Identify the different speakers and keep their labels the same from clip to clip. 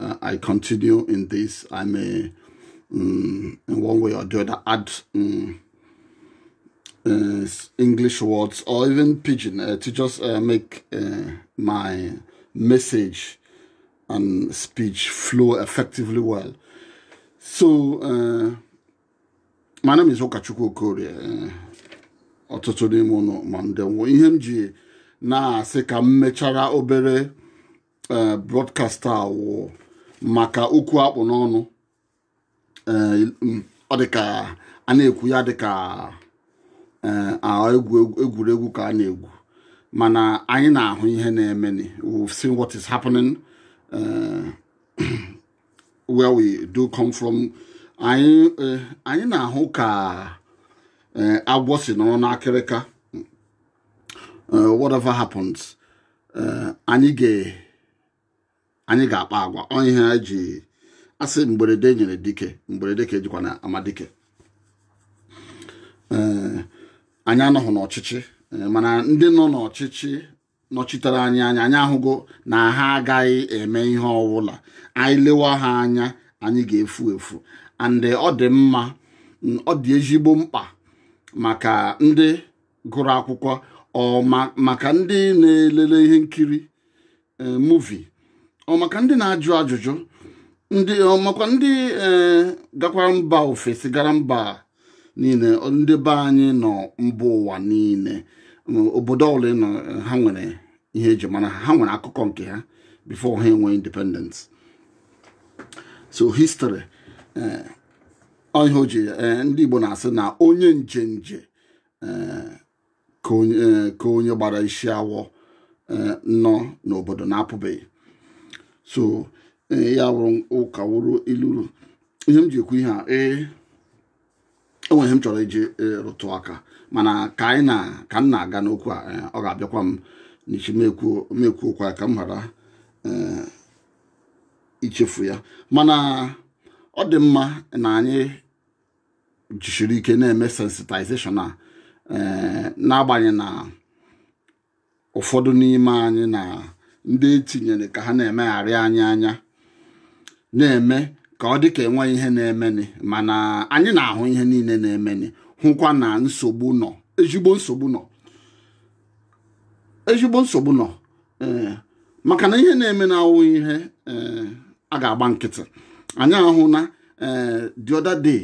Speaker 1: uh, I continue in this, I may, um, in one way or the other, add um, uh, English words or even pidgin uh, to just uh, make uh, my message and speech flow effectively well. So, uh, my name is Okachukwu Okorie. Uh, ọtụtụ n'ime unu ma ndewo ihe m ji na-asị ka m mechara obere eh, broadcast a wụ maka okwu akpụ n'ọnụ eh, mm, ọ dịka a na-ekwu ya dịka eh, egwuregwu ka a na-egwu mana anyị na-ahụ ihe na-eme we've seen what is happening where we do come from anyị na-ahụ ka agwọ si nọrọ n'akịrịka uh, whatever happens uh, anyị ga anyị ga-akpa agwa ọ ihe eji asị mgberede nyiri dike mgberede ka ejikwanụ ama dike uh, anyị anọghị n'ọchịchị mana ndị nọ n'ọchịchị nọchitere anyị anya anyị ahụgo na ha agaghị eme ihe ọbụla anyị lewa ha anya anyị ga-efu efu and ọ dị mma ọ dị ezigbo mkpa maka ndị gụrụ akwụkwọ or maka ndị na-elele ihe nkiri e, movie or maka ndị na-ajụ ajụjụ makwa ndị e, gakwara mba ofesi gara mba niile ndị be anyị nọ mba ụwa niile obodo ọbụla nọ ha nwere ihe eji mara ha nwere akụkọ nke ha before ha enwe independence so history ọ ihe o ji eh, ndị Igbo na-asị na onye njenje ka onye gbara isi awọ nọ n'obodo na-apụbeghị so ya wụrụ ụka wụrụ ilulu ihe m ji ekwu ihe a ee enwere ihe m chọrọ iji rụtụ aka mana ka anyị na ka m na-aga n'okwu a ọ ga-abịakwa m n'isi m ekwuo okwu a ka m ghara ichefu ya mana ọ dị mma na anyị jisiri ike na-eme sensitization a eh, n'agbanyeghị na ụfọdụ n'ime anyị na ndị etinyere ka ha na-emegharị anyị anya na-eme ka ọ dị ka enweghị ihe na-emeni mana anyị na-ahụ ihe niile na-emeni hụkwa na nsogbu nọ ezigbo nsogbu nọ ezigbo nsogbu nọ eh, maka na ihe na-eme na awụ ihe eh, a ga-agba nkịtị anyị ahụna eh, the other day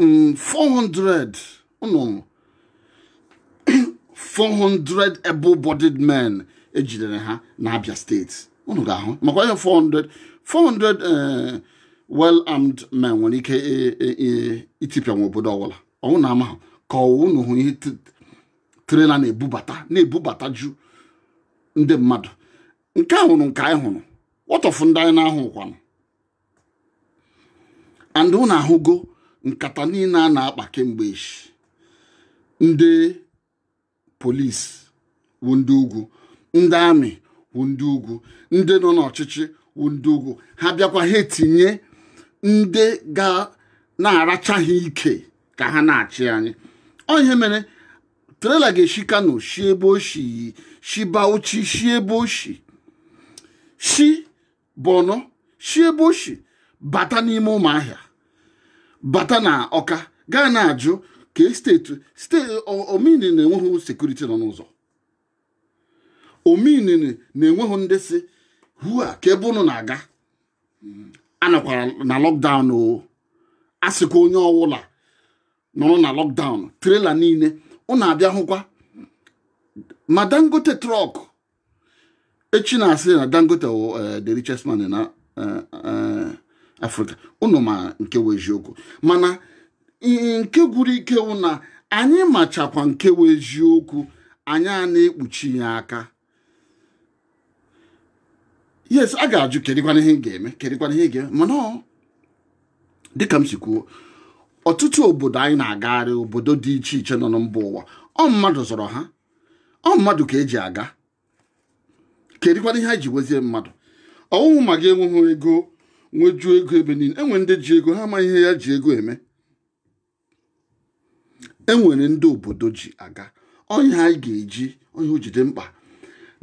Speaker 1: 400 nnụ 400 able-bodied men ejidere ha na Abia state unu ga-ahụ makwa ihe 400 400 well armed men nwere ike itipịa nwa obodo ọwụla ọ wụ na amahụ ka ọwụ unu hụ ihe trailer na-ebubata na-ebubata ju ndị mmadụ nke a hụrụ nke anyị hụrụ what of ndị anyị na-ahụ kwanụ and unu ahụgo nkata niile a na-akpa kemgbe echi ndị police wụ ndị ugwu ndị army wụ ndị ugwu ndị nọ n'ọchịchị wụ ndị ugwu ha bịakwa ha etinye ndị ga na-aracha ha ike ka ha na-achị anyị ọ ihe mere trailer ga-eshi kano shi ebe o shi shi bauchi shi ebe o shi shi borno shi ebe o shi bata n'ime ụmụahịa bata na ọka ga na-ajụ question ọ mean na enweghị security nọ n'ụzọ ọ mean na enweghị ndị sị ha kee ebe unu na-aga anọkwara na lockdown o a sịkwa onye ọwụla nọrọ na lockdown trailer niile unu abịa hụkwa ma dangote truck echi na-asị na dangote wụ eh, the richest man na eh, eh, africa unu ma nke wụ eziokwu mana i- nke gwuru ike wụ na anyị machakwa nke wụ eziokwu anyị a na-ekpuchi ya aka yes a ga-ajụ kedịkwanụ ihe ga-eme kedịkwanụ ihe ga-eme mana dịka m si kwuo ọtụtụ obodo anyị na-agagharị obodo dị iche iche nọ na mba ụwa ọ mmadụ zọrọ ha ọ mmadụ ka eji aga kedịkwanụ ihe anyị ji nwezie mmadụ ọ wụhụ ma gị enweghị ego nwejuo ego ebe niile enwere ndị ji ego ha amaghị ihe ya ji ego eme enwere ndị obodo ji aga onye anyị ga-eji ọ ihe o ji dị mkpa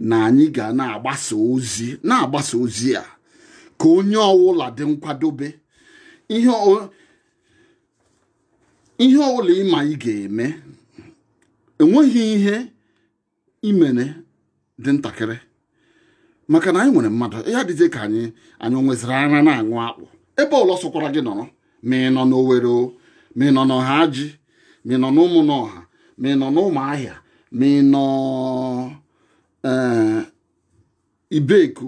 Speaker 1: na anyị ga na-agbasa ozi na-agbasa ozi a ka onye ọwụla dị nkwadobe ihe ọwụla ị ma ị ga-eme enweghị ihe i mere dị ntakịrị maka na anyị nwere mmadụ ya dịzie ka anyị anyị nweziri ara na-aṅụ akpụ ebe ọwụla ọ sọkwara gị nọrọ ma ị nọ n'Owere o ma ị nọ n'Ọhaji ma ị nọ n'Ụmụnọha ma ị nọ n'Ụmụahịa ma ị nọ eh, Ibeku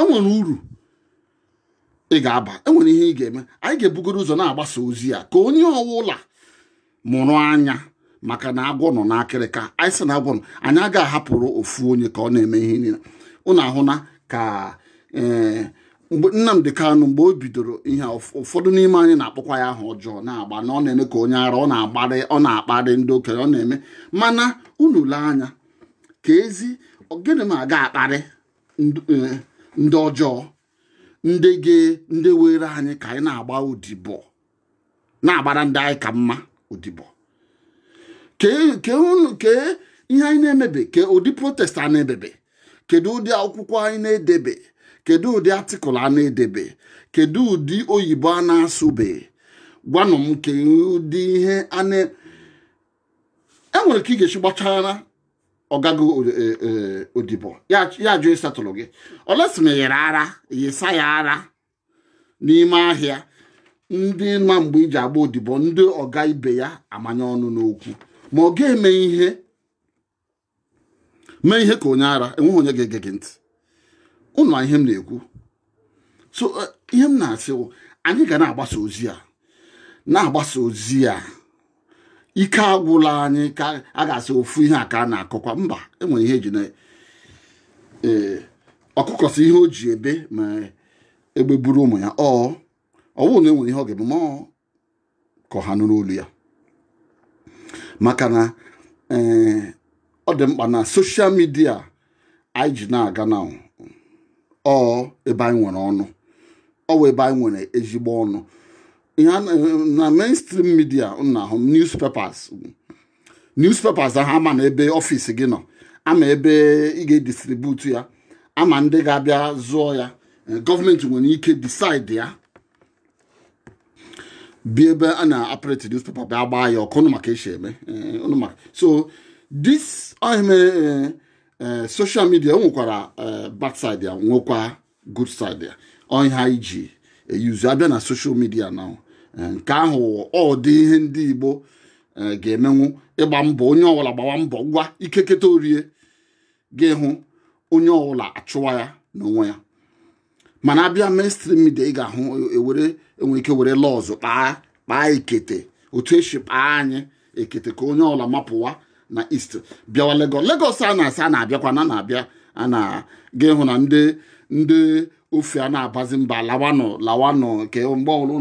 Speaker 1: enwere uru ị ga-aba enwere ihe ị ga-eme anyị ga-ebugoro ụzọ na-agbasa ozi a ka onye ọwụla mụrụ anya maka na agwọ nọ n'akịrịka anyị sị na agwọ nọ anyị agaghị ahapụrụ ofu onye ka ọ na-eme ihe niile ụnụ ahụna ka eh, mgbe Nnamdi Kanu mgbe o bidoro ihe ụfọdụ n'ime anyị na-akpọkwa ya aha ọjọọ na-agba na ọ na-eme ka onye ara ọ na-agbarị ọ na-akparị ndị okenye ọ na-eme mana unu lee anya keezi gịnị ma a ga-akparị eh, ndị ọjọọ ndị gị ndị were anyị ka anyị na-agba odibo na-agbara ndị anyị ka mma odibo kee ihe anyị na-emebe ke ụdị protest a na-ebebe kedu ụdị akwụkwọ anyị na-edebe kedu ụdị article a na-edebe kedu ụdị oyibo a na-asụbe gwanụ m ke ụdị ihe a na e nwere ka ị ga-esi gbachara ọga gị e, e, odibo ya ajụ ịsetụlụ gị unless ma i yiri ara yisa ya ara n'ime ahịa ndị ma mgbe i ji agba odibo ndị ọga ibe ya amanye ọnụ n'okwu ma ọ ga-eme ihe mee ihe ka onye ara enweghị onye ga-ege gị ntị ụnụ ihe m na-ekwu so eh, ihe m na-asị anyị ga na-agbasa ozi a na-agbasa ozi a ike agwụla anyị ka a ga-asị ofu ihe a ka a na-akọkwa mba enwere ihe eji na eh, ọkụkọ sị ihe o ji ebe ma egbe buru ụmụ ya ọ ọwụ na enwere ihe ọ ga-eme ma ka ọha nụrụ olu ya maka na eh, ọ dị mkpa na social media anyị ji na-aga na ọ ebe anyị nwere ọnụ ọ wụ ebe anyị nwere ezigbo ọnụ ihe na mainstream media na ahụ newspapers newspapers ahụ amanụ ebe office gị nọ ama ebe ị ga-edistributu ya ama ndị ga-abịa zụọ ya eh, government nwere ike decide ya bịa ebe a na-operate newspaper bịa gbaa ya ọkụ ụnụ ma ka esi eme eh, ụnụ ma ka so this ọ ihe mere eh, eh, social media o nwekwara bad side ya nwekwa good side ya ọ ihe anyị ji eyuzu abịa na social media na nke ahụ ọ dị ihe ndị Igbo ga-emenwu ịgba mbọ onye ọwụla gbawa mbọ ngwa ike keta orie ga-ehụ onye ọwụla achụwa ya n'onwe ya mana abịa mainstream media ị ga-ahụ ewere e enwere ike were laws kpaa kpaa ekete otu esi kpaa anyị ekete ka onye ọwụla mapụwa na east bịawa Lagos Lagos a na-asị a na-abịakwa na na-abịa a na ị ga-ahụ na ndị ndị ofe a na-abazi mba lawanụ lawanụ nke mgbe ọbụla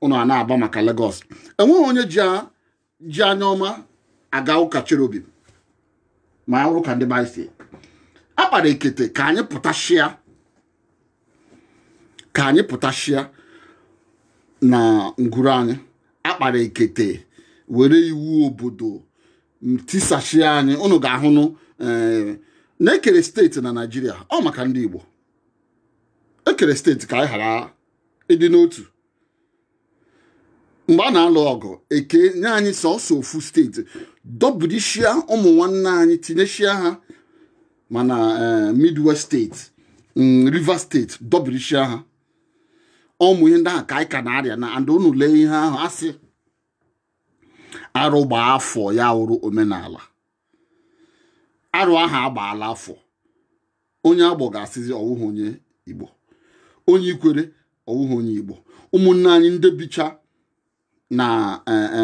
Speaker 1: ụnụ a na-aba maka Lagos enweghị onye ji ji anya ọma aga ụka cherubim ma ya wụrụ ka ndị baị si akpara ekete ka anyị pụtashịa ka anyị pụtashịa na ngwuru anyị akpara ekete were iwu obodo tisashịa anyị unu ga-ahụnụ eh, na-ekere steeti na naijiria ọ maka ndị igbo ekere steeti ka anyị ghara ịdị n'otu mgbe a na-alụ ọgụ ekenye anyị sọsọ ofu steeti dọbirishia ụmụ nwanne anyị tinyeshia ha ma na eh, midwest steeti mm, rivers steeti dọbirishia ha ọ wụ ihe ndị ahụ ka anyị ka na-arịa na and unu lee ihe ahụ asị arụ gbaa afọ ya wụrụ omenala arụ ahụ agbaala afọ onye agbọ ga-asịzi ọwụghị onye igbo onye ikwere ọwụghị onye igbo ụmụnne anyị ndị bicha na e, e,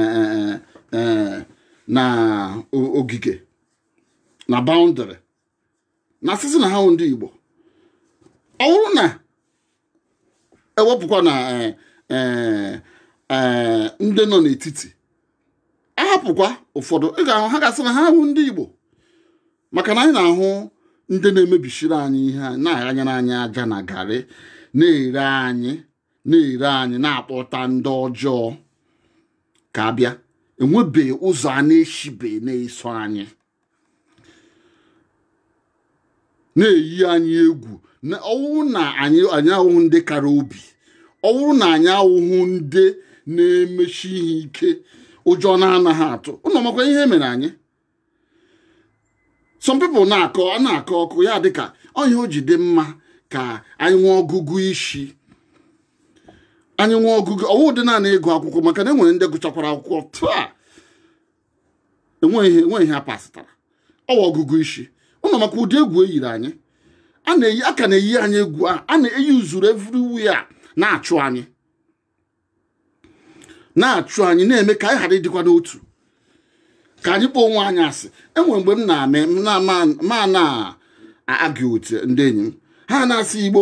Speaker 1: e, na ogige na boundary na-asịzi na ha awụhụ ndị igbo ọ wụrụ na ewepụkwa na eh, eh, eh, ndị nọ n'etiti ahapụkwa ụfọdụ ị ga-ahụ ha ga-asị na ha wụ ndị Igbo maka na anyị na-ahụ ndị na-emebisiri anyị ihe na-aghanyere anyị aja na garị na-ere anyị na-ere anyị na-akpọta ndị ọjọọ ka abịa enwebeghị ụzọ a na-eshibe na-eso anyị na-eyi anyị egwu na ọ wụrụ na anyị anyị awụhụ ndị kara obi ọ wụrụ na anyị awụhụ ndị na-emeshi ihe ike ụjọ na-anaghị atụ unu makwa ihe mere anyị some people na-akọ a na-akọ okwu ya dịka ọ ihe o ji dị mma ka anyị nwee ọgụgụ isi anyị nwee ọgụgụ ọ wụhụdị naanị ịgụ akwụkwọ maka na enwere ndị gụchakwara akwụkwọ taa enweghị enweghị ihe ha pasịtara ọwa ọgụgụ isi unu makwa ụdị egwu eyiri anyị a na-eyi a ka na-eyi anyị egwu a a na-eyi o zuru everywhere na-achụ anyị na-achụ anyị na-eme ka anyị ghara ịdịkwa n'otu ka anyị kpọọ onwe anyị asị enwere mgbe m na-eme m na-ama ma na argue with ndị enyi m ha na-asị igbo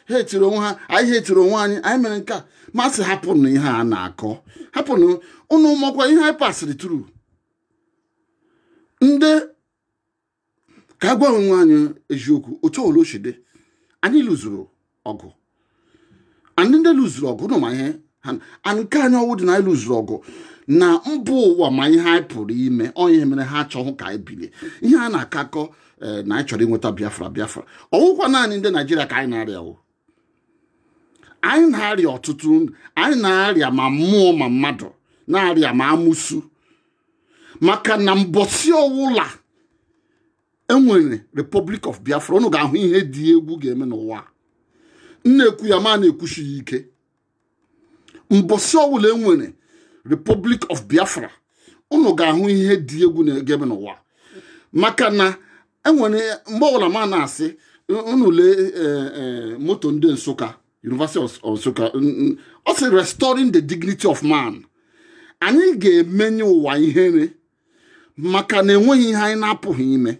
Speaker 1: hetiri onwe ha anyị hetiri onwe anyị anyị mere nke a m asị hapụnụ ihe a na-akọ hapụnụ unu makwa ihe anyị pasịrị through ndị ka gwa onwe anyị eziokwu otu o shi dị anyị lụzuru ọgụ and ndị lụzuru ọgụ nọ ma ihe ha nke anyị ọwụ dị na anyị lụzuru ọgụ na mba ụwa ma ihe anyị pụrụ ime ọwụ ihe mere ha achọghị ka anyị bilie ihe a na-akọ akọ eh, na anyị chọrọ inweta biafra biafra ọwụkwa naanị ndị naijiria ka anyị na-arịa o anyị na-arịa ọtụtụ anyị na-arịa ma mmụọ ma mmadụ na-arịa ma amusu maka na mbọsị ọwụla enwere Republic of Biafra ụnụ ga-ahụ ihe dị egwu ga-eme n'ụwa m na-ekwu ya ma na-ekwushi ya ike mbọsị ọwụla enwere Republic of Biafra ụnụ ga-ahụ ihe dị egwu ga-eme n'ụwa maka na enwere mgbe ọwụla ma na-asị unu lee eh, eh, motto ndị Nsụka University of Nsụka ọ sị restoring the dignity of man anyị ga-emenye ụwa ihere maka na enweghị ihe anyị na-apụghị ime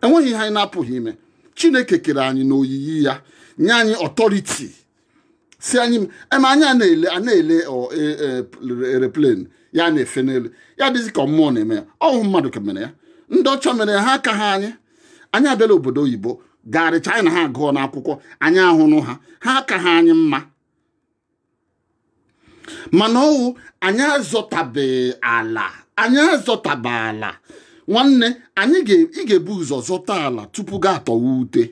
Speaker 1: enweghị ihe anyị na-apụghị ime chineke kere anyị n'oyiyi ya nye anyị authority sị anyị eme anyị a na-ele a na-ele aeroplane ya na-efe n'elu ya dịzi ka mmụọ na-eme ya ọwụ mmadụ ka mere ya ndị ọcha mere ya ha akaha anyị anyị abịala obodo oyibo garịcha anyị na ha agụọna akwụkwọ anyị ahụrụ ha ha akaha anyị mma mana ọwụ anyị azọtabeghị ala anyị azọtabe ala nwanne anyị ị ga-ebu ụzọ zọta ala tupu gị atọwa ute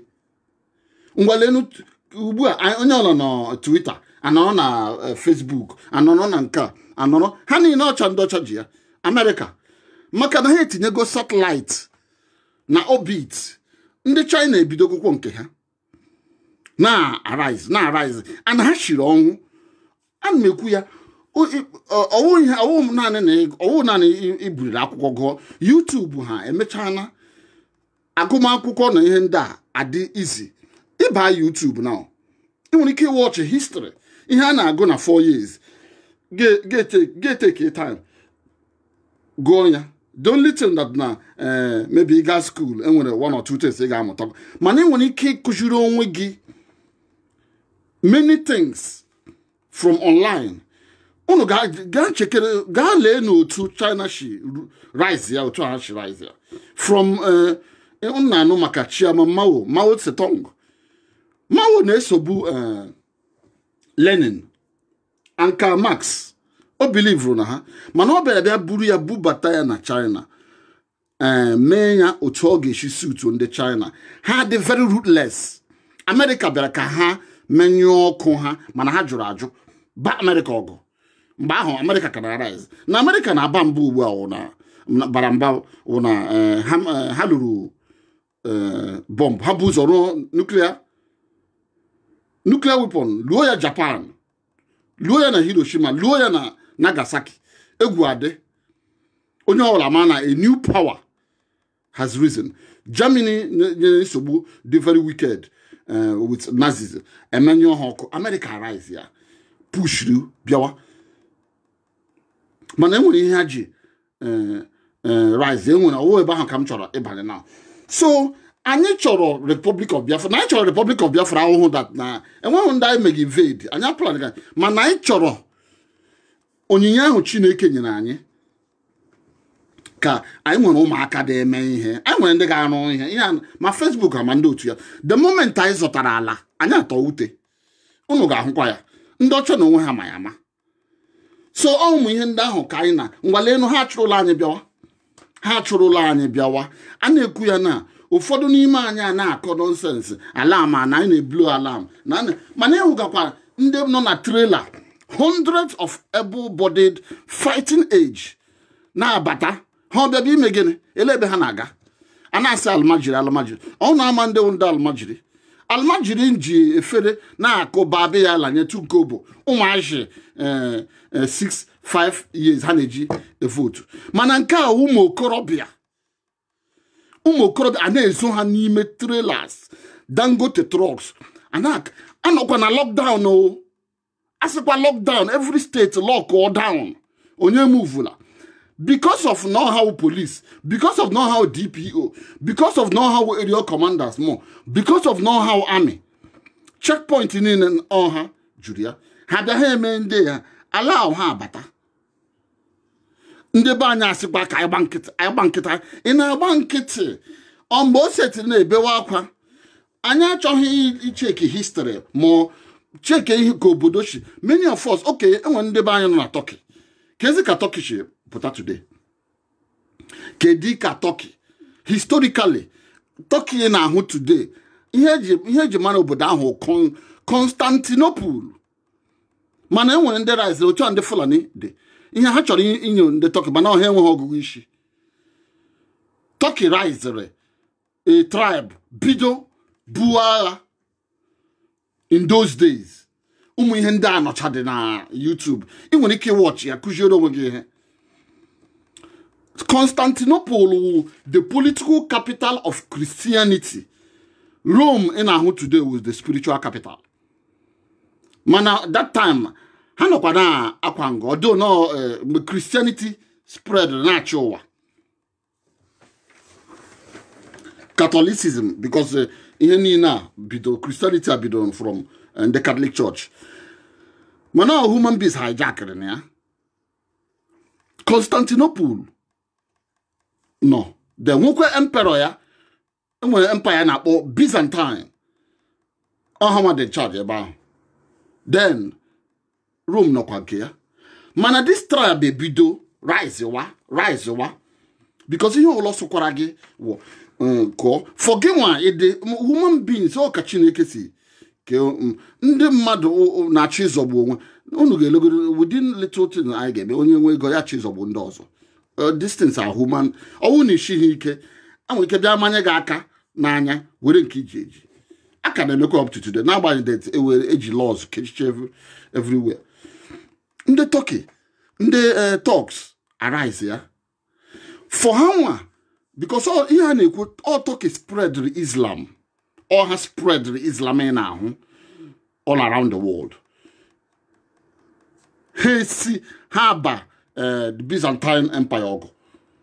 Speaker 1: ngwalenu ugbu a onye ọla na Twitter anọrọ na eh, Facebook anọrọ na nke a anọrọ ha niile wụcha ndị ọcha ji ya Amerịka maka na ha etinyego satellite na orbit ndị China ebidogokwo nke ha na-arise na-arise and ha shiri ọnwụ ana m ekwu ya ọwụ naanị iburiri akwụkwọ gụọ youtube ha emechana agụmakwụkwọ na ihe ndị a adị easy ịba youtube na ị nwere ike ịwatch history ihe a na-agụ na 4 years gị etake time gụọ ya the only thing that na eh, maybe ị gaa school enwere one or two things ị ga-amụta mana ị nwere ike ịkụziri onwe gị many things from online unu gaa chekere gaa lee nu otu china shi rise ya otu ha shi rise ya from eh, unu na-anụ maka chairman mao mao tse-tung mao na-esobu eh, lenin and karl marx o believuru na ha mana ọ bịara bịa buru ya bubata ya na china ee eh, mee ya otu ọ ga-esi suit ndị china ha dị very ruthless amerịka bịara ka ha menyụọ ọkụ ha mana ha jụrụ ajụ baa amerịka ọgụ mgbe ahụ amerịka ka na-arise na amerịka na-aba mba ugbu a bara mba wụ na eh, eh, ha lụrụ eh, bọmbụ ha bu ụzọ rụọ nuclear nuclear weapon luo ya japan luo ya na hiroshima luo ya na nagasaki egwu adị onye ọbụla ma na a new power has risen germany nyere nsogbu dị very wicked eh, with nazis emenyụọ ha ọkụ america rise ya pushuru bịawa mana enwere ihe ha ji eh, eh, rise enwere ọ wụ ebe ahụ ka m chọrọ ịbanye now so anyị chọrọ republic of biafra na anyị chọrọ republic of biafra awụhụ that na enweghị ndị anyị meghị invade anyị apụla dịka mana anyị chọrọ onyinye ahụ chineke nyere anyị ka anyị nwere ụmụaka dị eme ihe anyị nwere ndị ga-arụ ihe ihe ma facebook ma ndị otu ya the moment anyị zụtara ala anyị atọ ute unu ga-ahụkwa ya ndị ọcha n'onwe ha ma ya ama so ọ ụmụ ihe ndị ahụ ka anyị na ngwa leenụ ha achụrụla anyị bịawa ha achụrụla anyị bịawa a na-ekwu ya na ụfọdụ n'ime anyị a na-akọ nonsense alarm a na anyị na-eblow alarm mana ị hụgakwa ndị nọ na trailer hundreds of able-bodied fighting age na-abata ha ọ bịadụ ime gịnị elee ebe ha na-aga a na-asị almajiri almajiri ọ na-ama ndị wụ ndị almajiri almajiri ji efere na-akụ babiyala nye tuko bụ ụmụazị 6 eh, 5 eh, years ha na-eji evotu mana nke a ụmụ okorobịa ụmụ okorobịa a na-ezo ha n'ime trailers dangote trucks a nọkwa na lockdown o a sịkwa lockdown every state lockụọ down onye emovela because of know how police because of know how dpo because of know how area commanders more because of know how army checkpoint niile ọ ha juru ya ha bịa ha eme ndị a allow ha abata ndị be anyị asịkwa ka a gba nkịtị ị na-agba nkịtị ọ mgbe o setiri na-ebewe akwa anyị achọghị ịcheck history ma checkie ka obodo si many of us okay enwere ndị be anyị nọ na Turkey kezi ka Turkey si pụta today kedu ka Turkey historically Turkey ị na-ahụ today ihe e ji mara obodo ahụ Constantinople mana e nwere ndị risere otu a ndị Fulani dị ihe ha chọrọ inyo ndị Turkey mana ha enweghị ọgụgụ isi Turkey risere a tribe bido buo agha in those days ụmụ ihe ndị a nọchadị na YouTube ị nwere ike ịwatch ya kụziere onwe gị ihe Constantinople wụ the political capital of Christianity Rome ị na-ahụ today was the spiritual capital mana that time ha nọkwa na akwa nga ọdụ nọ eh, mgbe Christianity spread na-achị ụwa Catholicism because eh, ihe niile a bido Christianity a bidoro from eh, the Catholic Church mana ọ human beings hijackiri ya Constantinople nọ there nwekwa emperor ya enwere empire a na-akpọ Byzantine ọ ha nwa dị charge ebe ahụ then Rome nọkwa nke ya mana this tribe ebido rise wa because ihe ọbụla sọkwara gị wụ kụọ mm, for gị nwa ịdị mm, human beings ọ ka Chineke si ke mm, ndị mmadụ na-achọ ịzọgbu onwe unu ga-elegoro within little thing anyị ga-eme onye nwe ego ya achọ ịzọgbu ndị ọzọ uh, these things are human ọwụ na ị sighị ike enwere ike bịa manye gị aka n'anya were nke iji eji a ka na-emekwa up to today n'agbanyeghị that ewere eji laws kechiche everywhere ndị Turkey ndị uh, Turks arise ya for ha nwa because ihe a na-ekwu ọ Turkey spreadiri Islam ọ ha spreadiri Islam ị na-ahụ all around the world ha esi ha ba eh, the Byzantine Empire ọgụ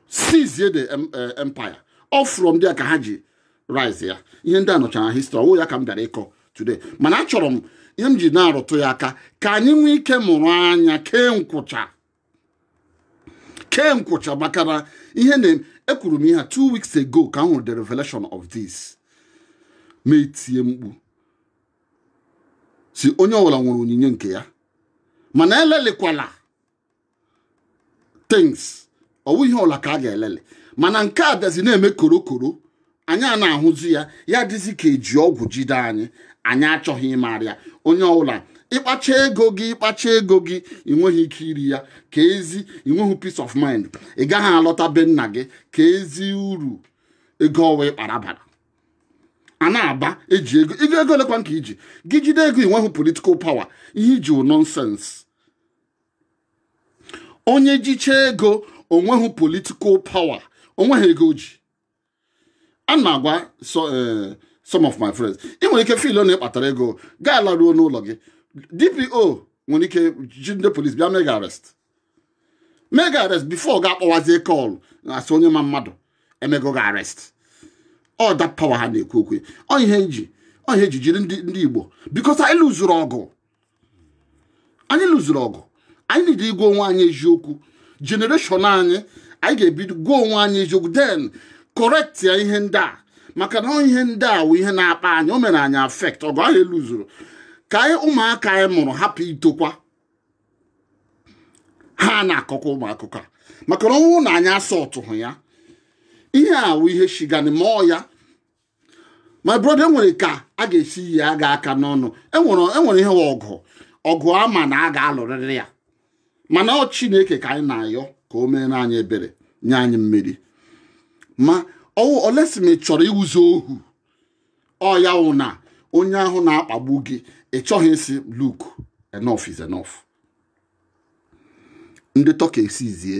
Speaker 1: seizie the eh, empire ọ from there ka ha ji rise ya ihe ndị a nọcha na history ọwụghị ya ka m bịara ịkọ today mana achọrọ m ihe m ji na-arụtụ ya aka ka anyị nwee ike mụrụ anya kee nkwụcha kee nkwụcha maka na ihe na ekwuru m ihe a two weeks ago ka m hụrụ the revelation of this mụ etie mkpu sị onye ọbụla nwere onyinye nke ya mana elelikwala things ọwụghị ihe ọbụla ka a ga-eleli mana nke a bịazi na-eme korokoro anyị a na-ahụzi ya ya dịzi ka eji ọgwụ jide anyị anyị achọghị ịmara ya onye ọbụla ịkpacha ego gị ịkpacha ego gị ị nweghị ike iri ya ka ezi ị nweghị peace of mind ị gaghị alọta be nna gị ka ezi uru ego ọwa ịkpara bara a na-aba eji ego ego ego olekwa nke iji gị jide ego ị nweghị political power ihe iji wụ nonsense onye jicha ego onweghị political power onweghị ego o ji a na-agwa eh, some of my friends ị nwere ike feel na ịkpatara ego gaa laruo n'ụlọ gị DPO nwere ike ji ndị police bịa mee gị arrest mee gị arrest before gị akpọwazie call asị onye ma mmadụ emego gị arrest ọ that power ha na-ekwu okwu ọ ihe eji ọ ihe eji jiri ndị Igbo because anyị loseru ọgụ anyị lụzuru ọgụ anyị need ịgwa onwe anyị eziokwu generation anyị anyị ga-ebido gwa onwe anyị eziokwu then correct ya ihe ndị a maka na ihe ndị a wụ ihe na-akpa anyị o mere anyị affect ọgụ anyị lụzuru ka anyị ụmụaka anyị mụrụ hapụ itokwa ha na-akọkwa ụmụ akụkọ a maka na ọ wụ na anyị asọtụhụ ya ihe a wụ ihe shigani mụọ ya my brother enwere ka a ga-esi yi aga aka n'ọnụ enwere enwere ihe ọgụ ọgụ a ma na a ga-alụrịrị ya mana ọ chineke ka anyị na-ayọ ka o meere anyị ebere nye anyị mmeri ma ọ wụ unless ma ị chọrọ ịwụzi ohu ọ ya wụ na onye ahụ na-akpagbu gị ị chọghị ịsị look enough is enough ndị Turkey esizie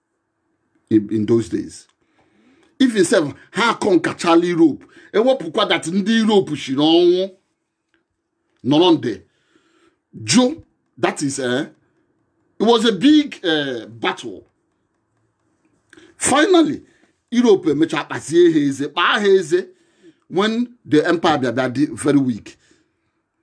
Speaker 1: in those days even sef ha aconquerchala Europe ewepụkwa that ndị Europe shiri ọnwụ nọrọ there jụ that is eh, it was a big eh, battle finally Europe emecha kpazie ha eze kpaa ha eze when the empire bịa bịa dị very weak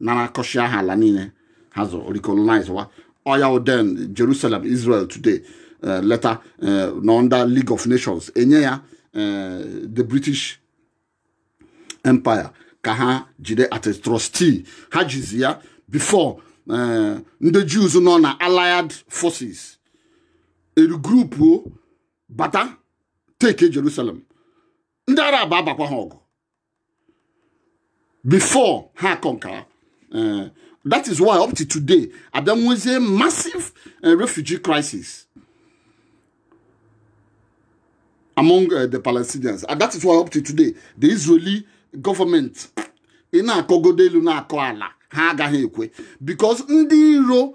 Speaker 1: narakọchaa ha ala niile ha zụrụ recolonizewa ọ ya wụ then Jerusalem Israel today eh, later eh, na under League of Nations enye ya eh, the British Empire ka ha jide as a trustee ha jizi ya before ndị Jews nọ na allied forces eregroupu bata take Jerusalem ndị arab abakwa ha ọgụ before ha aconquer eh, that is why up to today a bịa nwezie massive eh, refugee crisis among eh, the Palestinians and that is why up to today the Israeli government ị na-akọgodo elu na-akọ ala ha agaghị ekwe because ndị iro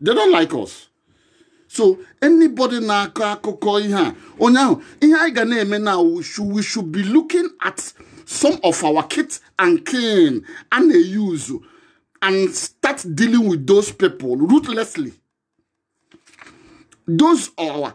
Speaker 1: they don't like us so anybody na-akọ akụkọ ihe a onye ahụ ihe anyị ga na-eme na we should, we should be looking at some of our kith and kin a na-use and start dealing with those people ruthlessly those are our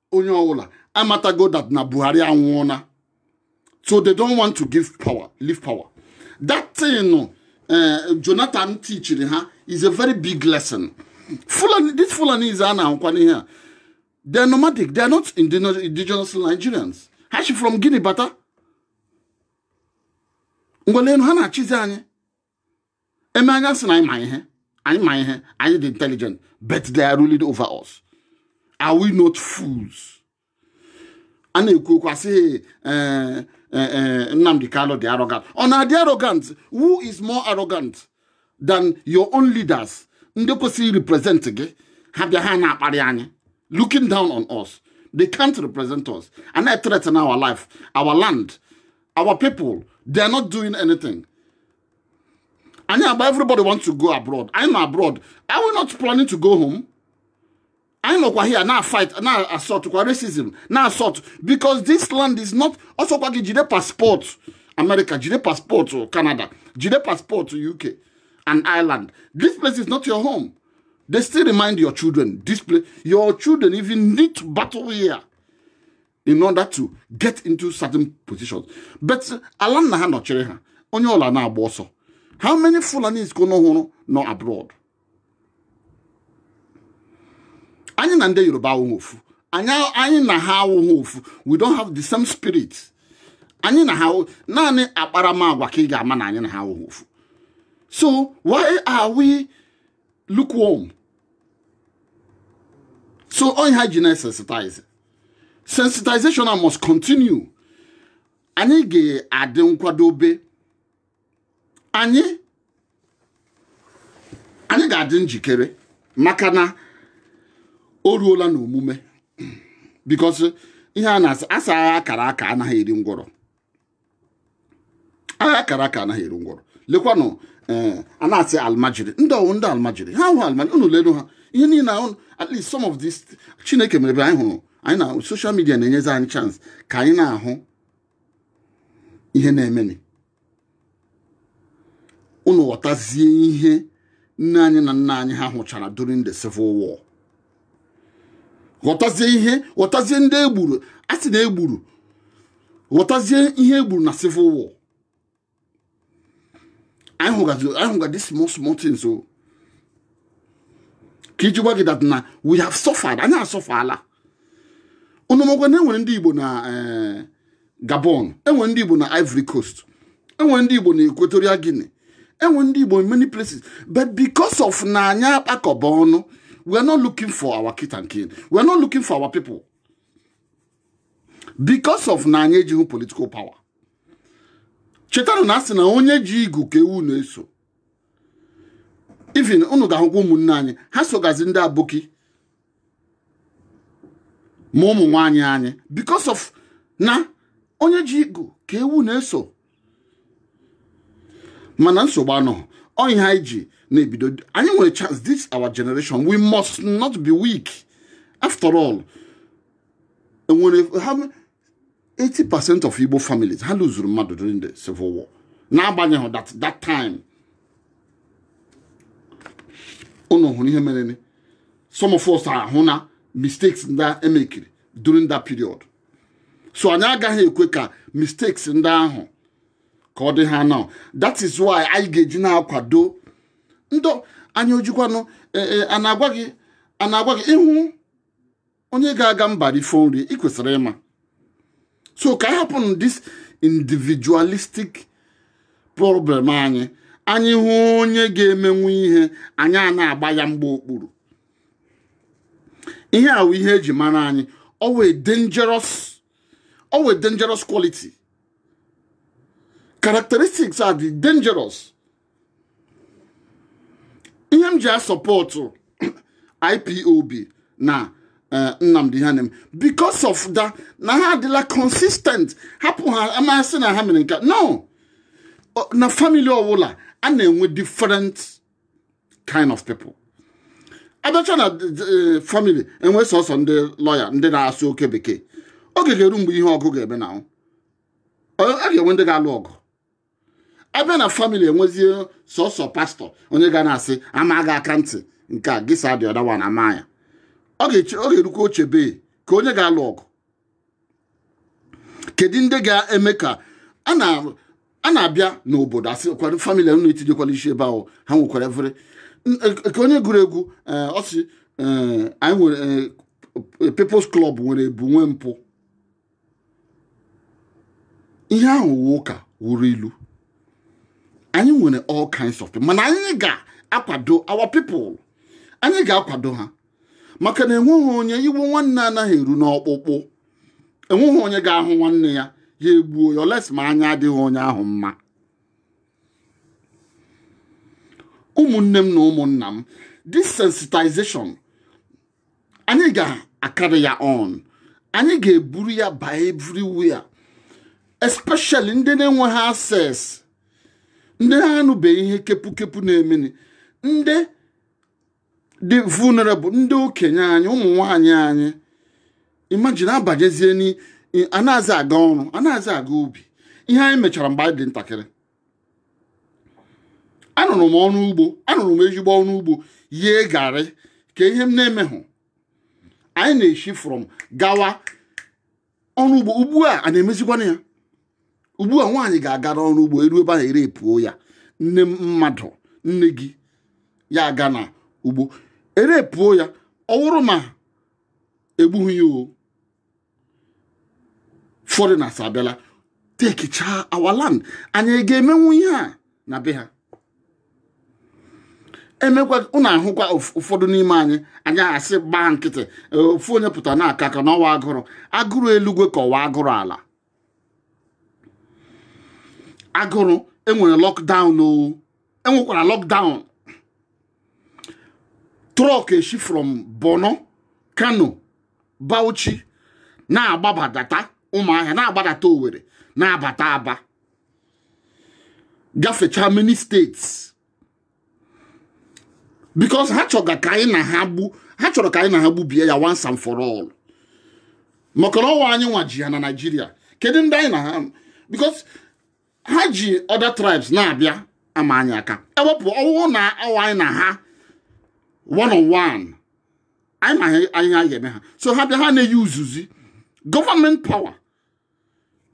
Speaker 1: onye ọbụla amatago that na buhari anwụọna so they don't want to give power leave power that thing eh, jonathan teachiri ha is a very big lesson fulani these fulanis a na-ahụkwa n'ihe a they are nomadic they are not indigenous nigerians ha si from guinea bata ngwa lenụ ha na-achịzi anyị eme anyị asị na anyị ma ihe anyị ma ihe anyị dị intelligent but they are ruling over us are we not fools a na-ekwu okwu asị eh, eh, eh, Nnamdi Kanu dị arrogant ọ na-adị arrogant who is more arrogant than your own leaders ndị kwesịrị represent gị ha bịa ha na-akparị anyị looking down on us they can't represent us and they threaten our life our land our people they are not doing anything anyị agba everybody want to go abroad anyị nọ abroad are we not planning to go home anyị nọkwa here na fight na assault kwa racism na assault because this land is not ọsọkwa gị jide passport America jide passport Canada jide passport UK and Ireland this place is not your home they still remind your children this place your children even need to battle here in order to get into certain positions but ala nna ha nọchiri ha onye ụlọ na-agba ọsọ how many Fulanis ka unu hụrụ nọ abroad anyị na ndị Yoruba awụghị ofu anyị na ha awụghị ofu we don't have the same spirit anyị na ha naanị akparamagwa ka ị ga-ama na anyị na ha awụghị ofu so why are we lukewarm so ọ ihe eji na-esensitize sensitization a must continue anyị ga-adị nkwadobe anyị anyị ga-adị njikere maka na o ruola n'omume because ihe a na-asị agha akara aka anaghị eri ngwọrọ agha akara aka anaghị eri ngwọrọ lekwanụ eh, a na-asị almajiri ndị ọ wụ ndị almajiri ha wụ almajiri unu lenụ ha ihe niile ahụ at least some of this chineke mere ebe anyị hụrụ anyị na social media na-enyezi anyị chance ka anyị na-ahụ ihe na-emeni unu ghọtazie ihe nne anyị na nna anyị ha hụchara during the civil war ghọtazie ihe ghọtazie ndị egburu a sị na egburu ghọtazie ihe egburu na civil war anyị hụgazi anyị hụga this small small things o ka iji gwa gị that na we have suffered anyị asufferala unu makwa na enwere ndị Igbo na eh, Gabon enwere ndị Igbo na Ivory Coast enwere ndị Igbo na Equatorial Guinea enwere ndị Igbo in many places but because of na anyị akpakọbeghị ọnụ we are not looking for our kith and kin we are not looking for our people because of na anyị ejighị political power chetanụ na asị na onye ji igu ka ewu na-eso even unu ga-ahụkwa ụmụnna anyị ha sogazi ndị aboki ma ụmụ nwaanyị anyị because of na onye ji igu ka ewu na-eso mana nsogbu anọ ọ ihe eji na-ebido anyị nwere chance this our generation we must not be weak after all enwere ha 80% of Igbo families ha lụzuru mmadụ during the civil war n'agbanyeghị that that time unu hụrụ ihe mereni some of us ahụna mistakes ndị e mekịrị during that period so anyị agaghị ekwe ka mistakes ndị ahụ ka ọ dị ha now that is why anyị ga-eji na-akwado ndị anyị ojikwanụ a na-agwa gị a na-agwa gị ị hụ onye ga-aga mba rifọ nri ị kwesịrị ịma so ka anyị hapụ this individualistic problem anyị anyị hụ onye ga-emenwu ihe anyị a na-agba ya mgba okpuru ihe a wụ ihe e ji mara anyị ọ wụ a dangerous ọ wụ a dangerous quality characteristics a dị dangerous ihe m ji a-support IPOB na eh, Nnamdi ihe ha na-eme because of that na ha adịla consistent hapụ ma a sị na ha mere nke a no na family ọwụla a na-enwe different kind of people a bịacha na eh, family e nwee sọsọ ndị lawyer ndị na-asụ oke bekee oge ga-eru mgbe ihe ọgụ ga-eme na a ga-enwe ndị ga-alụ ọgụ a bịa na family e nwezie sọsọ pastor onye ga na-asị a maa gị aka ntị nke a gị saa the other one a maa ya ọ ga-erukwa o chebe ka onye ga-alụ ọgụ kedu ndị ga-eme ka a na a na-abịa n'obodo a sị kwado family unu etinyekwala isi ebe ahụ ha nwekwara efere nke onye gụrụ egwu eh, ọ sị eh, anyị nwere eh, People's Club nwere ebu nwee mpụ ihe ahụ wụ ụka wụrụ ilu anyị nwere all kinds of people mana anyị ga-akwado our people anyị ga-akwado ha maka na enweghị onye iwe nwanne anaghị eru n'ọkpụkpụ enweghị onye ga-ahụ nwanne ya ya egbuo ya unless ma anya adịghị onye ahụ mma ụmụnne m na ụmụnna m this sensitization anyị ga-a-carry ya on anyị ga-eburu ya baa everywhere especially ndị na-enweghị access ndị ha anụbeghị ihe kepukepu na-emeni ndị dị vulnerable ndị okenye anyị ụmụ nwanyị anyị imagine abanyezie anazị aga ọrụ anazị aga ubi ihe anyị mechara mgbe anyị dị ntakịrị arụrụ m ọrụ ugbo arụrụ m ezigbo ọrụ ugbo yee garri ka ihe m na-emehụ anyị na-esi from gawa ọrụ ugbo ugbu a a na-emezikwanụ ya ugbu a nwaanyị ga-agara ọrụ ugbo e ruo ebe ahụ e repuo ya nne mmadụ nne gị ya aga na ugbo e repuo ya ọ wụrụ ma e gbughị ya o foreigners abịala tekichaa our land anyị ga-emenwu ihe a na be ha emekwa ụnụ ahụkwa ụfọdụ n'ime anyị anyị asị gbaa nkịtị ofu onye pụta na-aka aka na ọwụ agụrụ agụrụ elugwe ka ọwụ agụrụ ala agụrụ enwere lockdown o enwekwara lockdown truck eshi from Borno Kano Bauchi na-agbabadata Ụmụahịa na-agbadata Owerri na-abata Aba gafechaa many states because ha chọga ka anyị na ha gbu ha chọrọ ka anyị na ha gbubie ya once and for all maka na ọwụ anyị nwa ji ya na Naịjirịa kedu ndị anyị na ha because ha ji other tribes na-abịa ama anyị aka ewepụ ọwụrụ na ọwụ anyị na ha one on one anyị ma ihe anyị ga-eme ha so ha bịa ha na-eyuzuzi government power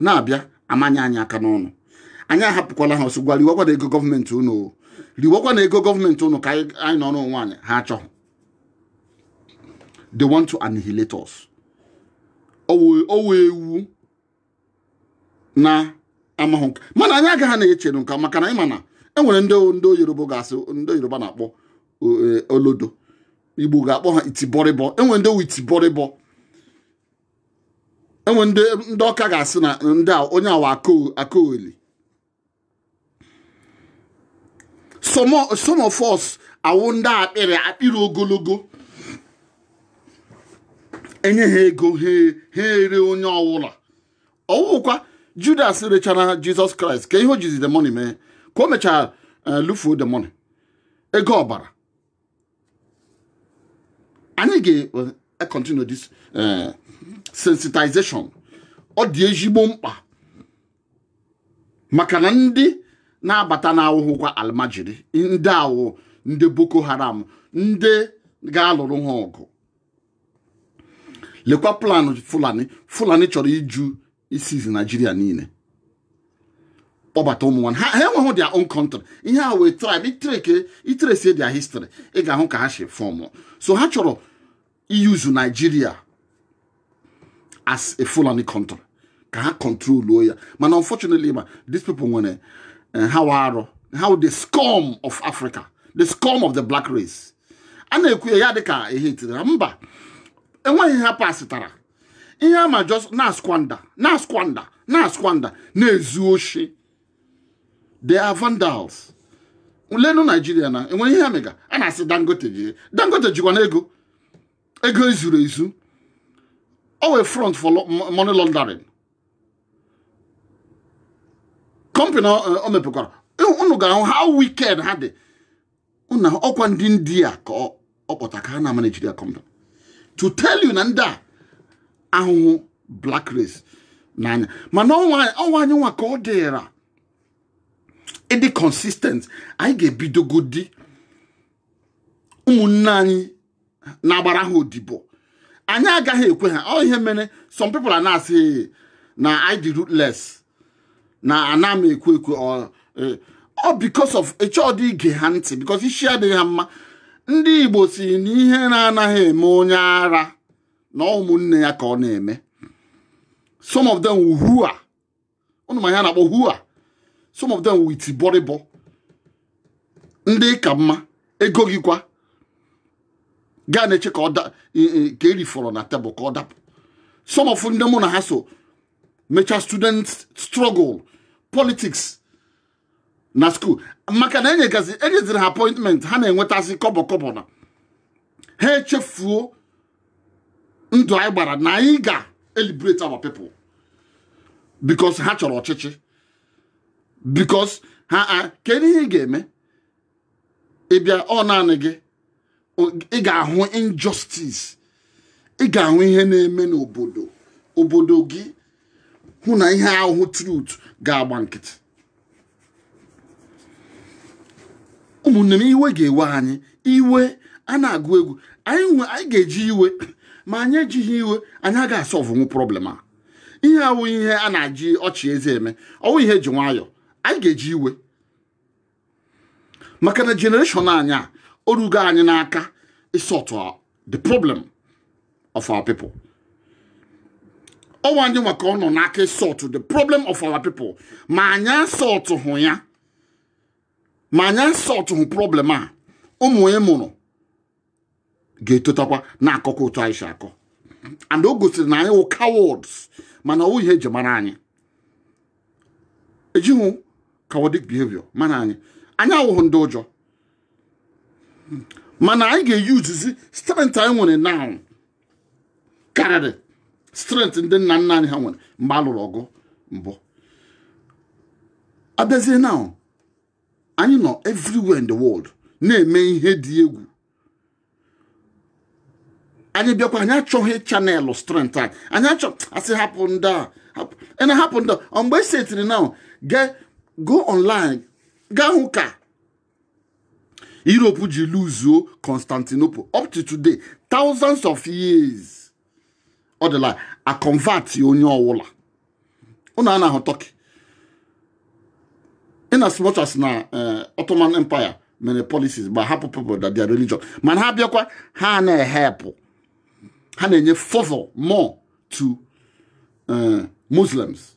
Speaker 1: na-abịa amanye anyị aka n'ọnụ anyị ahapụkwala ha sị ngwa riwakwanụ ego gọọmenti ụnụ riwakwanụ ego gọọmenti ụnụ ka anyị nọrọ onwe anyị ha achọghị they want to annihilate us o nwe ewu na-amahụ nke mana anyị agaghị na-echere nka maka na anyị ma na enwere ndị ndị Yoruba ga-asị ndị Yoruba na-akpọ e, olodo Igbo ga-akpọ ha itibọrịbọ enwere ndị itibọrịbọ enwere ndị Ọka ga-asị na ndị onye a wụ akaoli some of us awụ ndị akpịrị akpịrị ogologo enye ha ego ha ere onye ọwụla ọwụkwa judas rechara jesus christ kee ihe o jizi the money mee ka o mechara lufuo the money ego ọbara anyị ga-continue eh, this eh, sensitization ọ dị ezigbo mkpa maka na ndị na-abata na awụhụkwa almajiri ndị a wụ ndị boko haram ndị ga-alụrụ ha ọgụ lekwa plan fulani fulani chọrọ iju isizi naijiria niile kpọbata ụmụ nwanne ha enweghị their own country ihe a wụ tribe i tresie their history ị ga-ahụ ka ha si fọmụ so ha chọrọ iyuzu naijiria as a fulani country ka ha kọntroluo ya mana unfortunately ma these people nwere eh, ha wụ arụ ha wụ the scum of africa the scum of the black race a na-ekwu ya ya dịka hatred mba enweghị ihe ha pasịtara ihe ha ma just na-asquander na-asquander na-asquander na-ezu oshi they are vandals lenu Nigeria na enwere ihe mega a na-asị dangote ji dangote jikwanụ ego ego ezuru ezu ọ wụ front for money laundering company o mepekwara unu ga-ahụ how wicked ha dị na ọkwa ndị ndị a ka ọ kpọta ka ha na-amanagera ya company to tell you na ndị a ahụhụ black race n'anya mana ọ wụ anyị nwa ka ọ dịra ịdị consistent anyị ga-ebidogodi ụmụnne anyị na-agbara ha odibo anyị agaghị ekwe ha ọ ihe mere some people na-asị na I dị ruthless na ana m ekwe ekwe ọ eh, because of ịchọọdị ige ha ntị because isi adịghị ha mma ndị Igbo si na ihere anaghị eme onye ara na ọ wụ ụmụnne ya ka ọ na-eme some of them who are ụnụ ma ihe a na-akpọ who are some of them with bọrịbọ ndị ị ka mma ego gị kwa gaa na-eche ka ọ da e, e, nke e rifọrọ na table ka ọ dapụ some of ndị mụ na ha so mechaa student struggle politics na school maka na enyegazi enyeziri ha appointment ha na-enwetasị kọbọ kọbọ na ha echefuo ndụ anyị gbara na anyị ga-eliberate our people because ha chọrọ ọchịchị because ha kedu ihe ị ga-eme ị bịa ọ naanị gị ị ga-ahụ injustice ị ga-ahụ ihe na-eme n'obodo obodo gị hụ na ihe a wụ truth ga-agba nkịtị ụmụnne m iwe ga-ewe anyị iwe a na-agụ egwu anyị ga-eji iwe ma anyị ejighị iwe anyị agaghị asolvenwu problem a ihe awụ ihe a na-aji ọchị eze eme ọwụ ihe eji nwayọọ anyị ga-eji iwe maka na generation anyị a orugo anyị n'aka isọtụ the problem of our people ọwụ anyị nwa ka ọ nọ n'aka isọtụ the problem of our people ma anyị asọtụhụ ya ma anyị asọtụhụ problem a ụmụ ị mụrụ ga-etotakwa na-akọkwa otu anyị si akọ and o gosiri na anyị wụ cowards mana ọwụ ihe eji mara anyị ejighị cowardic behavior mara anyị anyị awụghị ndị ụjọ mana anyị ga-eusezi strength anyị nwere now karịrị strength ndị nna nna anyị ha nwere mgbe a lụrụ ọgụ mbụ abịazie now anyị nọ everywhere in the world na-eme ihe dị egwu anyị bịakwa anyị achọghị channel strength anyị anyị achọ asị hapụ ndị a ị na-ahapụ ndị ọ mgbe esi etiri now go online gaa hụ ka Europe ji luzuo Constantinople up to today thousands of years ọ dịla aconvert onye ọwụla ụnụ a na-ahụ Turkey in as much as na eh, Ottoman Empire mere policies gbahapụ people that their religion mana ha bịakwa ha na-ehelp ha na-enye favor more to eh, Muslims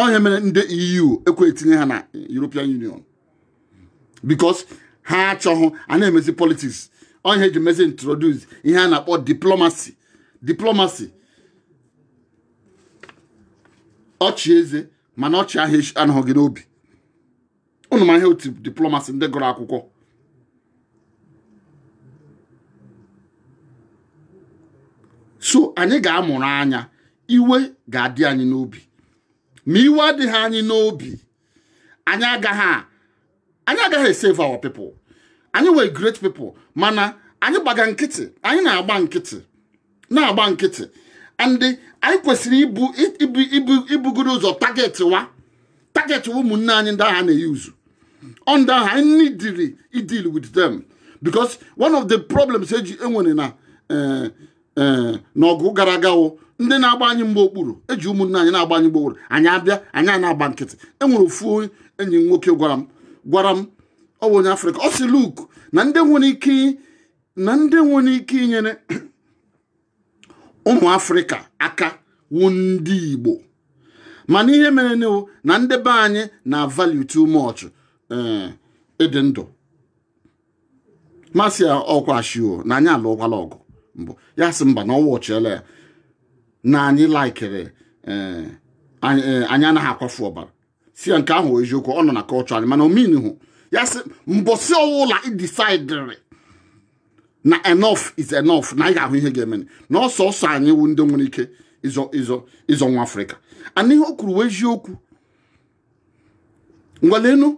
Speaker 1: ọ ihe mere ndị EU ekwe etinye ha na European Union because ha achọghị a na-emezi politics ọ ihe eji mezi introduce ihe a na-akpọ diplomacy diplomacy ọchị eze mana ọchị ahụ anọghị n'obi ụnụ ma ihe otu diplomacy ndị gụrụ akwụkwọ so anyị ga-amụrụ anya iwe ga-adị anyị n'obi ma iwe adịghị anyị n'obi anyị agaghị anyị agaghị esave our people anyị nwere great people mana anyị gbaga nkịtị anyị na-agba nkịtị na-agba nkịtị and anyị kwesịrị ibu ibu ibu ibugoro ụzọ target wa target wa ụmụnne anyị ndị ahụ a na-eyuzu ọ ndị ahụ anyị needịrị ideal with them because one of the problems anyị nwere na eh, eh, n'ọgụ gara aga wụ ndị na-agba anyị mgba okpuru eji ụmụnne anyị na-agba anyị mgba okpuru anyị abịa anyị a na-agba nkịtị enwere ofu onye enyi m nwoke gwara m gwara m ọ wụ onye afrịka ọ sị look na ndị nwere ike na ndị nwere ike inyere ụmụ afrịka aka wu ndị igbo mana ihe merenụ wụ na ndị be anyị na value too much eh, ịdị ndụ mụ asị ya ọkwa sure na anyị alụọkwala ọgụ mbụ ya asị mba na ọ watchiela ya na anyị laikere eh, anyị eh, anyị anaghị akwafu ọbara sị ya nke ahụ wụ eziokwu ọ nọ na culture anyị mana ọ meanhụ ya asị mbọsị ọwụla ị decidịrị na enough is enough na anyị ga-ahụ ihe ga-eme na ọ sọsọ anyị wụ ndị nwere ike ịzọ ịzọ ịzọ nwa afrịka and ihe o kwuru wụ eziokwu ngwa lenụ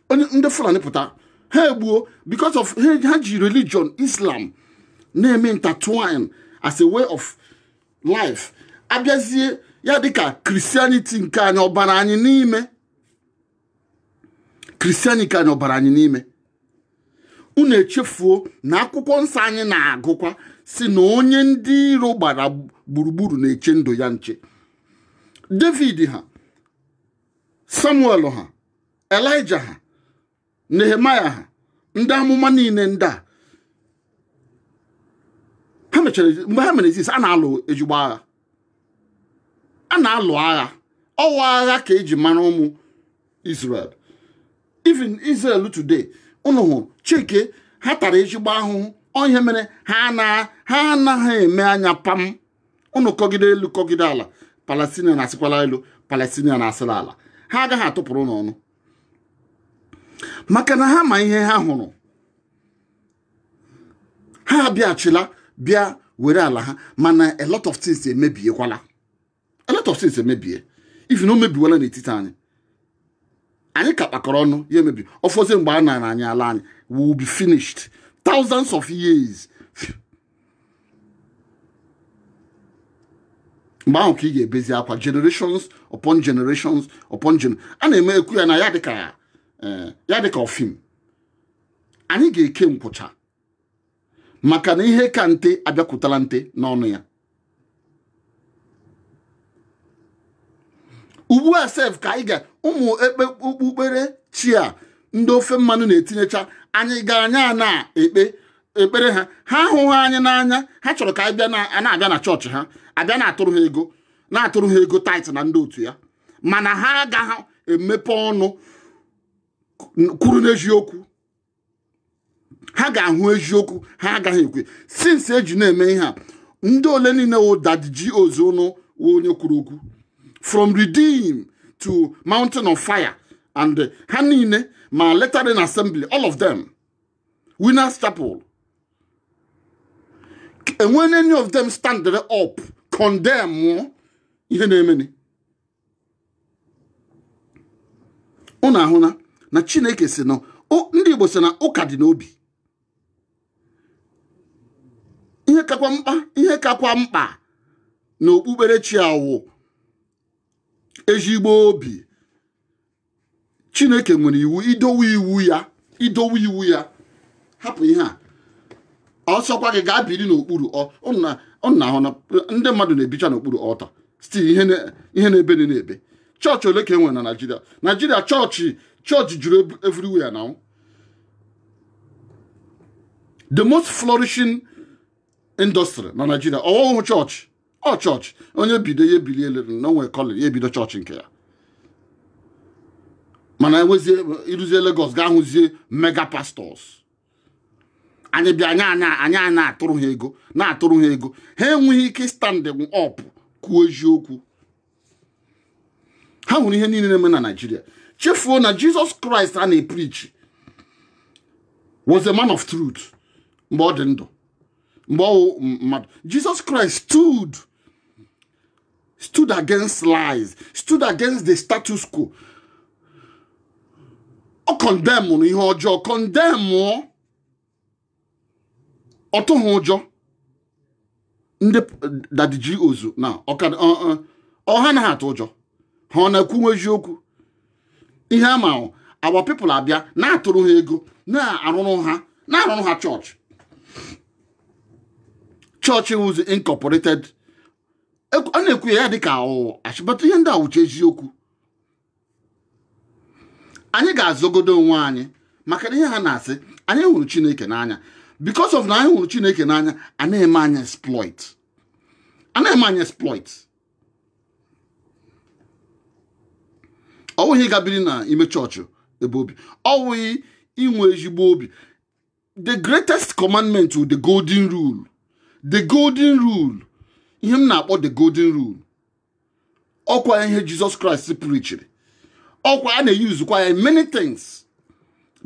Speaker 1: anya ndị Fulani pụta ha egbuo because of ha ji religion Islam na-eme intertwine as a way of life abịazie ya dịka christianity nke anyị ọ bara anyị n'ime christianity anyị ọ bara anyị n'ime unu echefuo na akwụkwọ nsọ anyị na-agụkwa sị na onye ndị iro gbara gburugburu na-eche ndụ ya nche david ha samuel ha elija ha nehemaya ha ndị amụma niile ndị a ha mechara mgbe ha mere exist a na-alụ ezigbo agha a na-alụ agha ọ wụ agha ka e ji mara ụmụ Israel even Israel today ụnụ hụrụ chike ha tara ezigbo ahụhụ ọ ihe mere ha na ha anaghị eme anya pam ụnụ kọgide elu kọgide ala Palestinian asịkwala elu Palestinian asịla ala ha agaghị atụpụrụ ụnụ ọnụ maka na ha ma ihe ha hụrụ ha abịachila bịa were ala ha mana a lot of things emebiekwala a lot of things emebie even o mebiwala n'etiti anyị anyị ka kpakọrọ ọnụ ya emebi ọ fọzie mgbe a nara anyị ala anyị we will be finished thousands of years mgbe ahụ ka ị ga-ebezi akwa generations upon generations upon gen a na-eme ekwu ya na ya dịka eh, ya dịka ọ film anyị ga-eke nkwụcha maka na ihe ka nte abịakwutala nte n'ọnụ ya ugbu a sef ka anyị ga ụmụ ekpe okpukpere chi a ndị ofe mmanụ na-etinyecha anyị ga anya na-ekpe ekpere ha ha ahụghị anyị n'anya ha chọrọ ka anyị na-abịa na chọọchị ha abịa na-atụrụ ha ego na-atụrụ ha ego tithe na ndị otu ya mana ha agaghị emepe ọnụ kwuru n'eziokwu ha ga-ahụ eziokwu ha agaghị ekwe since e ji na-eme ihe a ndị ole niile wụ daddy GOs ụnụ wụ onye kwuru okwu from redeem to mountain of fire and ha niile ma latter rain assembly all of them winners chapel e nwere any of them standere up condemn ihe na-emeni ụnụ ahụna na chineke sị na ndị igbo sị na ụka dị n'obi ihe kakwa mkpa ihe kakwa mkpa na okpukperechi a wụ ezigbo obi chineke nwere iwu idowe iwu ya idowe iwu ya hapụ ihe a ọ sọkwa gị gaa biri n'okpuru ụnụ ahụna ndị mmadụ na-ebicha n'okpuru altar still ihe na-ebeni na-ebe chọọchị ole ka e nwere na naijiria naijiria chọọchị chọọchị juru everywhere na the most flourishing industry na naijiria ọ wụhụ chọọchị ọ chọọchị onye bido ya ebelieve na o nwe call ya ebido chọọchị nke ya mana enwezie i ruzie Lagos ga ahụzie mega pastors anyị bịa anya anya anya na-atụrụ ha ego na-atụrụ ha ego ha enweghị ike stand up kwuo eziokwu ha hụrụ ihe niile na-eme na naijiria chefuo na jizọs kraịst ha na-epreach was a man of truth mgbe ọ dị ndụ mgbe ọ wụ mmadụ jizọs kraịst stood stood against lies stood against the status quo ọ condemnụrụ ihe ọjọọ condemnụọ ọ tụghị ụjọ ndị daddy GOs na ọha na ha atụ ụjọ ha ọ na-ekwuwe eziokwu ihe ama our people abịa na-atụrụ ha ego na-arụrụ ha na-arụrụ ha chọọchị chọọchị wụzi incorporated a na-ekwu ya dịka ashị but ihe ndị a wụcha eziokwu anyị ga-azọgodo onwe anyị maka na ihe ha na-asị anyị hụrụ chineke n'anya because of na anyị hụrụ chineke n'anya a na-eme anyị exploit a na-eme anyị exploit ọ wụghị ga biri n'ime chọọchị ebe obi ọ wụghị inwe ezigbo obi the greatest commandment wụ the golden rule the golden rule ihe m na-akpọ the golden rule ọkwa ihe jizọs kraịst preachiri ọkwa a na-eusekwa ya many things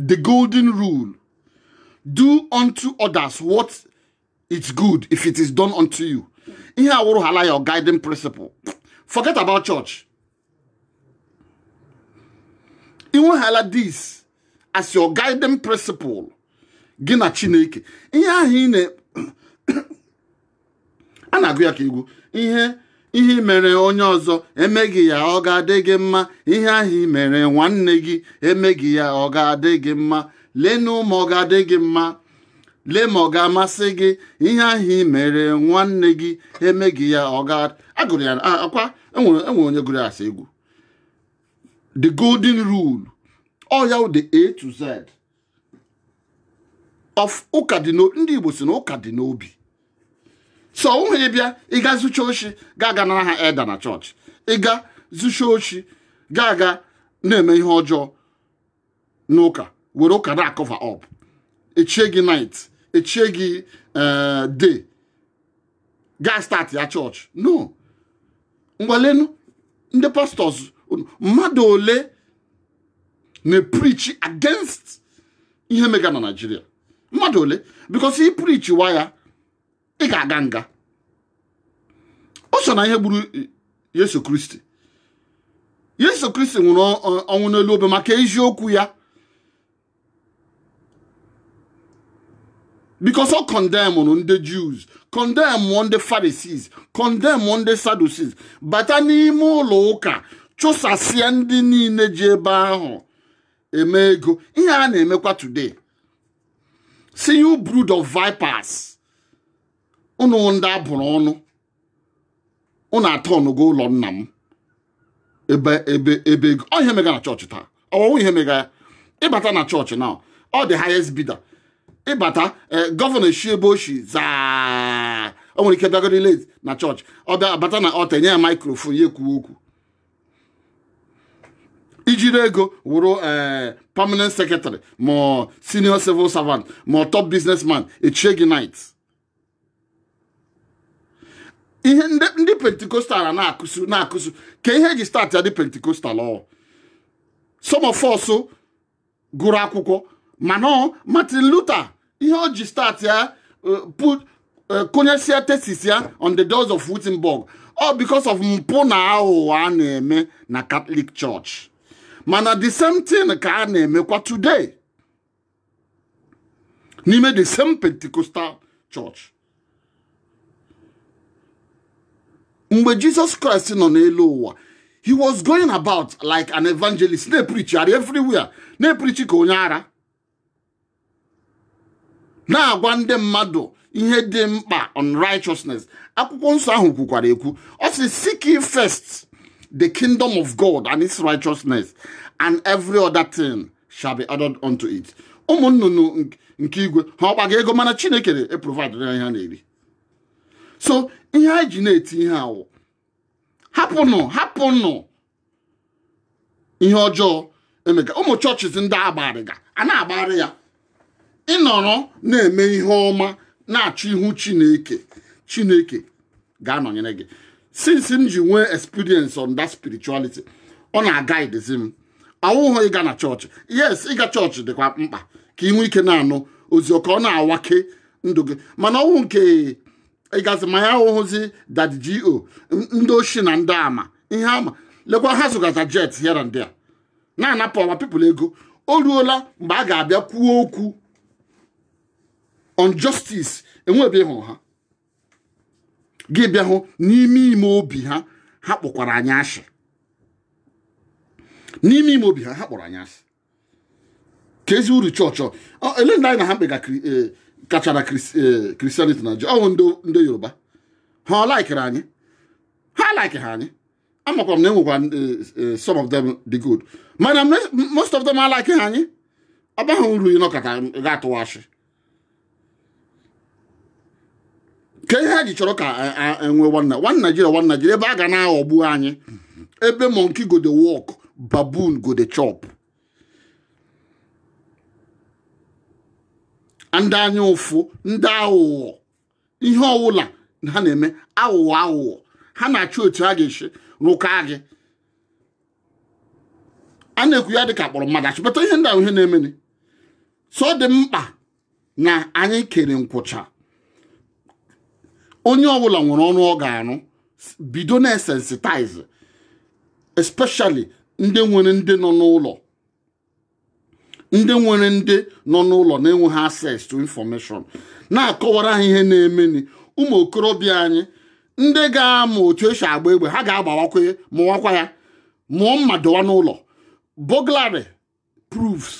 Speaker 1: the golden rule do unto others what is good if it is done unto you ihe a wụrụhala your guiding principle forget about church i nwehala this as your guiding principle gị na chineke ihe ahụ ị na a na-agụ ya ka egwu ihe ihe i mere onye ọzọ e mee gị ya ọ ga-adị gị mma ihe ahụ i mere nwanne gị e mee gị ya ọ ga-adị gị mma lenu ma ọ ga-adị gị mma lee ma ọ ga-amasị gị ihe ahụ ị mere nwanne gị e mee gị ya ọ ga agụrụ ya akwa e nwere e nwere onye gụrụ ya as egwu the golden rule ọ ya wụ the a to z of ụka dị n'o- ndị igbo sị na ụka dị n'obi so ụhụ ị bịa ịga zucha oshi ga-aga nara ha eda na chọọchị ịga zucha oshi ga-aga na-eme ihe ọjọọ n'ụka were ụka na-acover up echie gị knight echie gị eh, de gaa start ya chọọchị no ngwa lenụ ndị pastors mmadụ ole na-eprichi against ihe mega na Naịjirịa mmadụ ole because i prichiwa ya ị ga-aga nga o so na ihe gburu Yesu Kristi Yesu Kristi nwụrụ ọnwụ n'elu obe maka eziokwu ya because ọ condemnụrụ ndị Jews condemn ndị Pharisees condemn ndị Sadducees bata n'ime ụlọ ụka chụsasịa ndị niile ji ebe ahụ eme ego ihe a na-emekwa today sị you brood of vipers ụnụ wụ ndị a bụrụ ọnụ ụnụ aturnụgo ụlọ nna m ebe ebe ebe ego ọ ihe mega na chọọchị taa ọwụwụ ihe mega ya ị bata na chọọchị now ọ the highest bidder ị bata eh, gọvanọ eshi ebe o shi zaa o nwere ike bịagoro late na chọọchị ọ bịa abata na altar e nye ya microphone ya ekwuwe okwu i jiri ego wụrụ ee permanent secretary ma ọ senior civil servant ma ọ top businessman echie gị knight ihe ndị ndị Pentecostal a na-akụsu na-akụsu ka ihe e ji start ya dị Pentecostal ọ some of us gụrụ akwụkwọ ma na Martin Luther ihe o ji start ya eh, put eh, konyesịa thesis ya on the doors of Wittenberg all because of mpụ na aghụghọ a na-eme na Catholic Church mana the same thing ka a na-emekwa today n'ime the same Pentecostal Church mgbe Jesus Christ nọ n'elu ụwa he was going about like an evangelist na-eprichigharị everywhere na-eprichi ka onye ara na-agwa ndị mmadụ ihe dị mkpa on righteousness akwụkwọ nsọ ahụ kwukwara ekwu ọ sị seek ye first the kingdom of god and its righteousness and every other thing shall be added unto it ụmụ nnụnụ nke igwe ha ọ kpaga ego mana chineke na-eprovide ihe ha na-eri so ihe anyị ji na-eti ihe a wụ hapụnụ hapụnụ ihe ọjọọ e mega ụmụ chọọchị ndị a gbagharịga a na-agbagharị ya ị nọrọ na-eme ihe ọma na-achọ ihu chineke chineke ga-anọnyere gị since m ji nwee experience on that spirituality ọ na-aguidezi m ọ wụghụ ịga na chọọchị yes ịga chọọchị dịkwa mkpa ka ị nwee ike na-anụ ozi ka ọ na-awake ndụ gị mana ọ wụ nke ịgazi ma ya ahụhụzi Daddy G.O ndị oshi na ndị ama ihe ama lekwa ha zụgaza jet here and there na-anapụ our people ego o ruola mgbe a ga-abịa kwuo okwu on justice enwebe ịhụ ha gị bịa hụ n'ime ime obi ha ha kpọkwara anyị ashị n'ime ime obi ha ha kpọrọ anyị ashị keezi uru chọọchị ele ndị anyị na ha kpekachara Christianity e, na ọwụ ndị Yoruba ha ọ likere anyị ha alikeha anyị amakwa m na enwekwa e, some of them dị good mana most of them alikeha anyị ọ baghị uru ịnọkọta ga-atụwa ashị kee ihe ha ji chọrọ ka e nwee one Nigeria one Nigeria ebe a ga na-aghọgbu anyị ebe monkey go dey work baboon go dey chop ndị anya ụfụ ndị aghụghọ ihe ọwụla ha na-eme aghụghọ aghụghọ ha na-achọ otu ha ga-esi rụka gị a na-ekwu ya dịka a kpọrọ mmadụ ashị but ihe ndị a wụ ihe na-emeni so ọ dị mkpa na anyị kere nkwụcha onye ọbụla nwere ọrụ ọ ga-arụ bido na-esensitize especially ndị nwere ndị nọ n'ụlọ ndị nwere ndị nọ n'ụlọ na-enweghị access to information na-akọwara ha ihe na-emeni ụmụ okorobịa anyị ndị ga-amụ otu e si agba egbe ha ga-agbawakwa ya mụwakwa ya mụọ mma dọwa n'ụlọ burglary proofs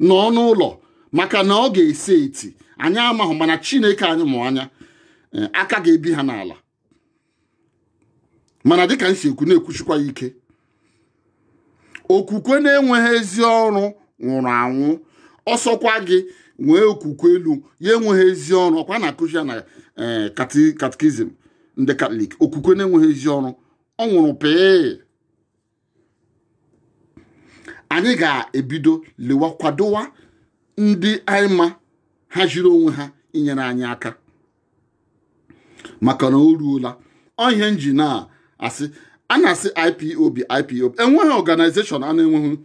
Speaker 1: n'ọnụ ụlọ maka na ọ ga-ese eti anyị amaghị mana chineke anyị mụ anya eh, aka ga-ebi ha n'ala mana dịka m si ekwu na-ekwushikwa ya ike okwukwe na-enweghị ezi ọrụ nwụrụ anwụ ọsọkwa gị nwee okwukwe elu ya enweghị ezi ọrụ ọkwa a na-akụzi ya na eh, kati- katikizim ndị Katọlik okwukwe na-enweghị ezi ọrụ ọ nwụrụ pii anyị ga-ebido lewa kwadowa ndị anyị ma ha jiri onwe ha inyere anyị aka maka na o ruola ọ ihe m ji na-asị a na-asị IPOB IPOB enweghị organization a na-enweghị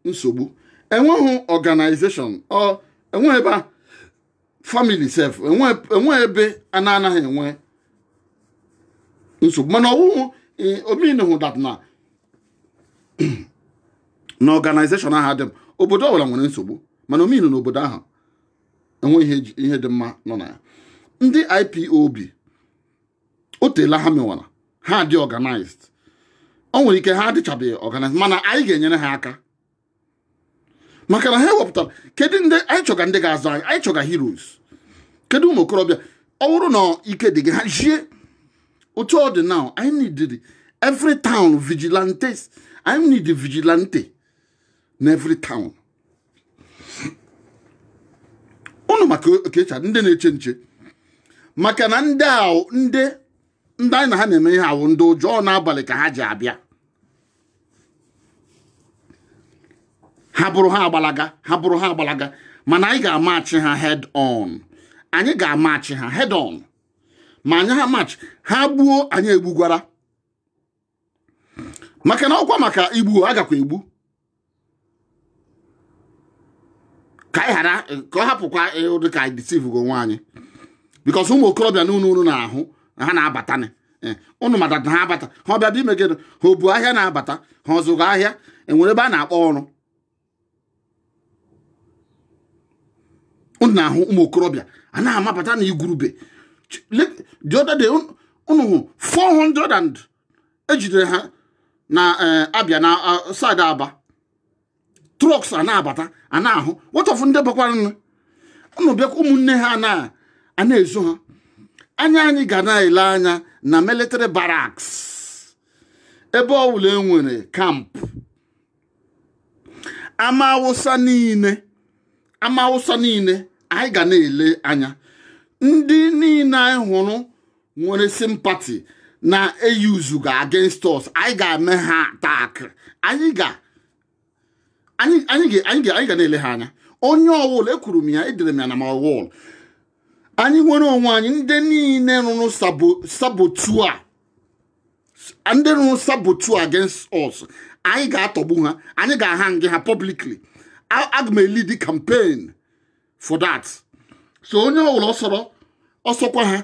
Speaker 1: nsogbu enweghị organization enweghị ebe a family self enwe ebe a na-anaghị enwe nsogbu mana ọ wụhụ eh, ọ meanhụ that na na organization ahụ adị mma obodo ọbụla nwere nsogbu mana ọ meanhụ na obodo ahụ enwe ihe dị mma nọ na ya ndị IPOB o teela ha mewara ha dị organized o nwere ike ha adịchabeghị organized mana anyị ga-enyere ha aka maka na ha wepụtara kedu ndị anyị chọga ndị ga-azọ anyị anyị chọga heroes kedu ụmụ okorobịa ọ bụrụ na ike dị gị hazie otu ọ dị now anyị need every town vigilantes anyị need vigilante na every town unu maka okecha ndị na-eche nche maka na ndị ahụ ndị ndị anyị na ha na-eme ihe a wụ ndị ụjọ n'abalị ka ha ji abịa ha bụrụ ha agbalaga ha bụrụ ha agbalaga mana anyị ga-amatch ha head on anyị ga-amatch ha head on ma anyị ha match ha gbuo anyị egbugwara maka na ọ kwa maka igbu a gakwa egbu ka anyị ghara ka ọ hapụkwa ụdị ka anyị deceivega onwe anyị because ụmụ okorobịa na unu na-ahụ ha na-abata eh, unu mata na ha abata ha ọ bịadị ime gịnị ha o bu ahịa na-abata ha ọ zụga ahịa e nwere ebe a na-akpọ ọrụ unu na-ahụ ụmụ okorobịa a na-amabata na igurube the other day unu hụ 400 and e jidere ha na eh, Abịa na ah, side Aba trucks a na-abata a na-ahụ what of ndị bakwaranụ unu bịakwa ụmụnne ha na a na-ezo ha anya anyị ga na-ele anya na military barracks ebe ọ bụla e nwere camp ama Awụsa niile ama Awụsa niile anyị ga na-ele anya ndị niile anyị hụrụ nwere sympathy na e yuzuga against us anyị ga-eme ha attack anyị ga anyị anyị ga anyị ga anyị ga na-ele ha anya onye ọwụla ekwuru m ya edere m ya na my wall anyị nwere onwe anyị ndị niile rụrụ sabo saboteur ndị rụrụ saboteur against us anyị ga-atọgbu ha anyị ga-ahangị ha publicly aga m elead the campaign for that so onye ọbụla ọ sọrọ ọ sọkwa ha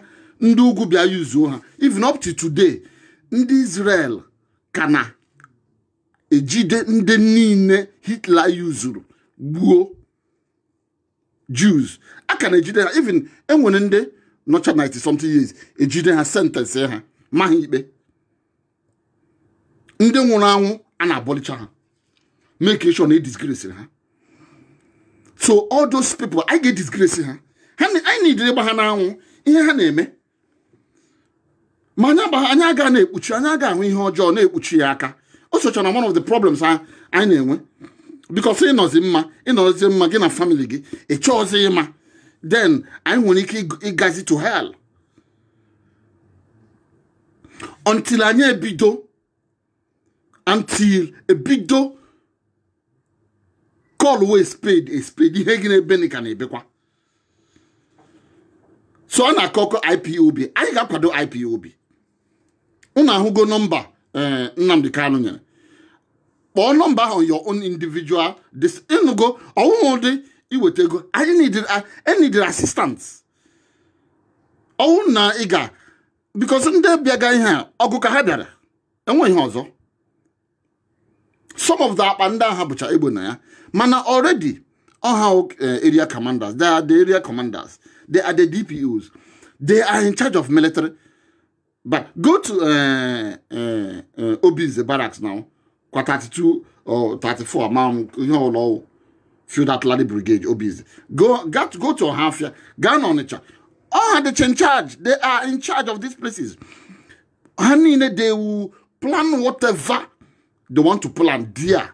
Speaker 1: ndị ugwu bịa yuzuo ha even up to today ndị Israel ka na-ejide ndị niile Hitler yuzuru gbuo Jews a ka na-ejide ha even enwere ndị nọcha 90 something years ejide ha sentence ha ma ha ikpe ndị nwụrụ anwụ a na-abọlicha ha make sure na edisgrace ha so all those people anyị ga-edisgrace ha anyị nidiri ịgba ha n'anwụ ihe ha na-eme ma anyị aga na-ekpuchi anyị aga ahụ ihe ọjọọ na-ekpuchi ya aka o socha na one of the problems anyị na-enwe because ịnọzi mma ịnọzi mma gị na family gị ị chọọzi ịma then anyị nwere ike ịgazi to hell until anyị ebido until ebido callwe spade a spade ihe gị na-ebe na ka na-ebekwa so ọ na-akọkọ IPOB anyị ga-akwado IPOB unu ahụgo nọmba eh, Nnamdi Kanu nyere kpọọ nọmba on your own individual this ịnụgo ọ wụhụ ụdị iweta ego anyị needed a- I needed assistance ọ wụrụ na ị ga because ndị bịaga ihe a ọgụ ka ha bịara enwehị ihe ọzọ some of the akpa ndị a ha bucha egbe na ya mana already ọ ha eh, area commanders they are the area commanders they are the DPOs they are in charge of military but go to uh, uh, uh, Obinze barracks now kwa 32 or 34 ma ihe ọbụla ọ wụ field artillery brigade Obinze go gat go to Ohafia gaa na Ọnịcha ọ ha dịcha in charge they are in charge of these places ha niile they will plan whatever they want to plan there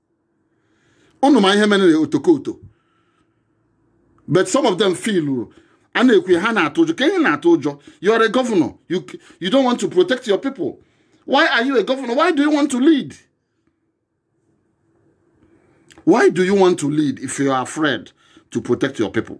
Speaker 1: ụnụ ma ihe mere otokoto but some of them feel a na-ekwu ha na-atụ ụjọ ka ihe na-atụ ụjọ you are a governor you, you don't want to protect your people why are you a governor why do you want to lead why do you want to lead if you are afraid to protect your people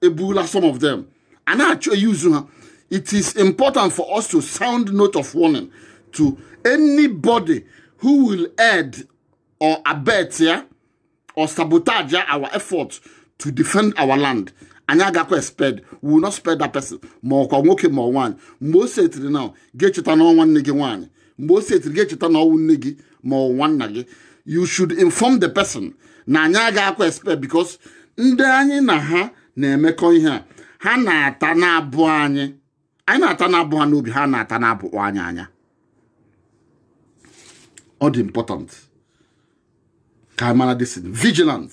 Speaker 1: ebula some of them a na-achọ iyuzu ha it is important for us to sound note of warning to anybody who will aid or abet eh or sabotage our effort to defend our land anyị agakwa espare we will not spare that person ma ọ kwa nwoke ma nwaanyị mgbe o setiri na gị echeta na ọ nwanne gị nwaanyị mgbe o setiri gị echeta na ọ nwanne gị ma ọ nwanna gị you should inform the person na anyị agaghịkwa espare because ndị anyị na ha na-emekọ ihe a ha na-ata na-abụ anyị anyị na-ata na-abụ ha n'obi ha na-ata na-abụkwa anyị anya ọ dị important ka anyị mara this vigilant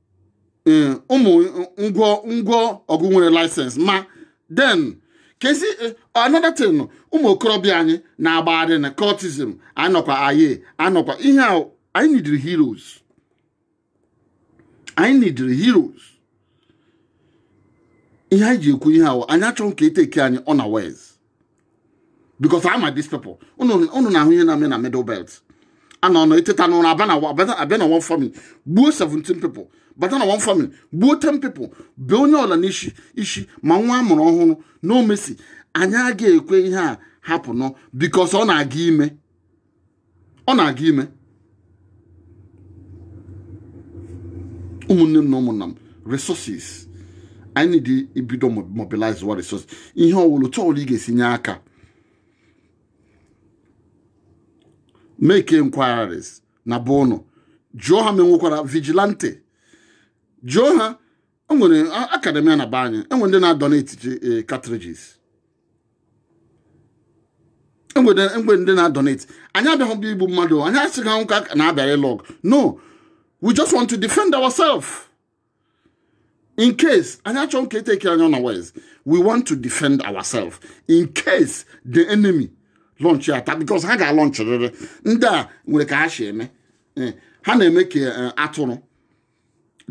Speaker 1: eh, ụmụ ngwọngwọ ọgụ nwere license ma then kesi eh, another thing ụmụ okorobịa anyị na-agbagharị na cultism anyị nọkwa Aye anyị nọkwa ihe a anyị nidiri heroes anyị nidiri heroes ihe anyị ji ekwu ihe a wụ anyị achọghị ka etake anyị unawares because ama m these people unu na-ahụ ihe na-eme na middle belt a nọ nọ iteta n'ụra abịa na one family gbuo 17 people bata na one family gbuo 10 people bee onye ọwụla n'isi isi ma nwa a mụrụ ọhụrụ no mercy anyị agaghị ekwe ihe a happenụọ because ọ na-aga ime ọ na-aga ime ụmụnne m na ụmụnna m resources anyị need ibido mobilizewa resources ihe ọwụla otu ọwụla ị ga-esi nye aka make inquiries na be unu jụọ ha ma enwekwara vigilante jụọ ha enwere academy na be anyị enwere ndị na-adonate eh, cartridges enwere ndị na-adonate anyị abịaghị bụ igbu mmadụ anyị asịghị anwụ ka na abịara ịlụ ọgụ no we just want to defend ourselves in case anyị achọghị ka e take anyị unawares we want to defend ourselves in case the enemy launch attack because ha ga-alaunchịrịrị ndị a nwere ka ha si eme eh, ha na-eme ka eh, atụrụ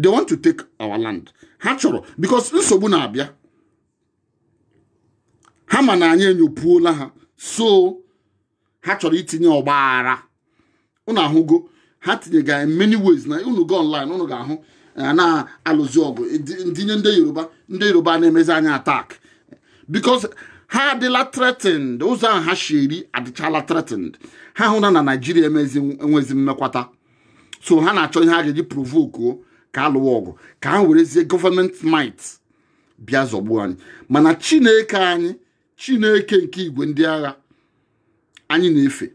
Speaker 1: they want to take our land ha chọrọ because nsogbu na-abịa ha ma na anyị enyopuola ha so ha chọrọ itinye ọgba aghara unu ahụgo ha tinyega in many ways na unu go online unu ga-ahụ eh, na-alụzi ọgụ ndị anyị ndị yoruba ndị yoruba na-emezi anyị attack because ha adịla threatened ụzọ ahụ ha shiri adịchala threatened ha hụ na na naijiria enwezi mmekwata so ha na-achọ ihe ha ga-eji provokuo ka alụwa ọgụ ka ha werezie government might bịa zọgbuo anyị mana chineke anyị chineke nke igwe ndị agha anyị na-efe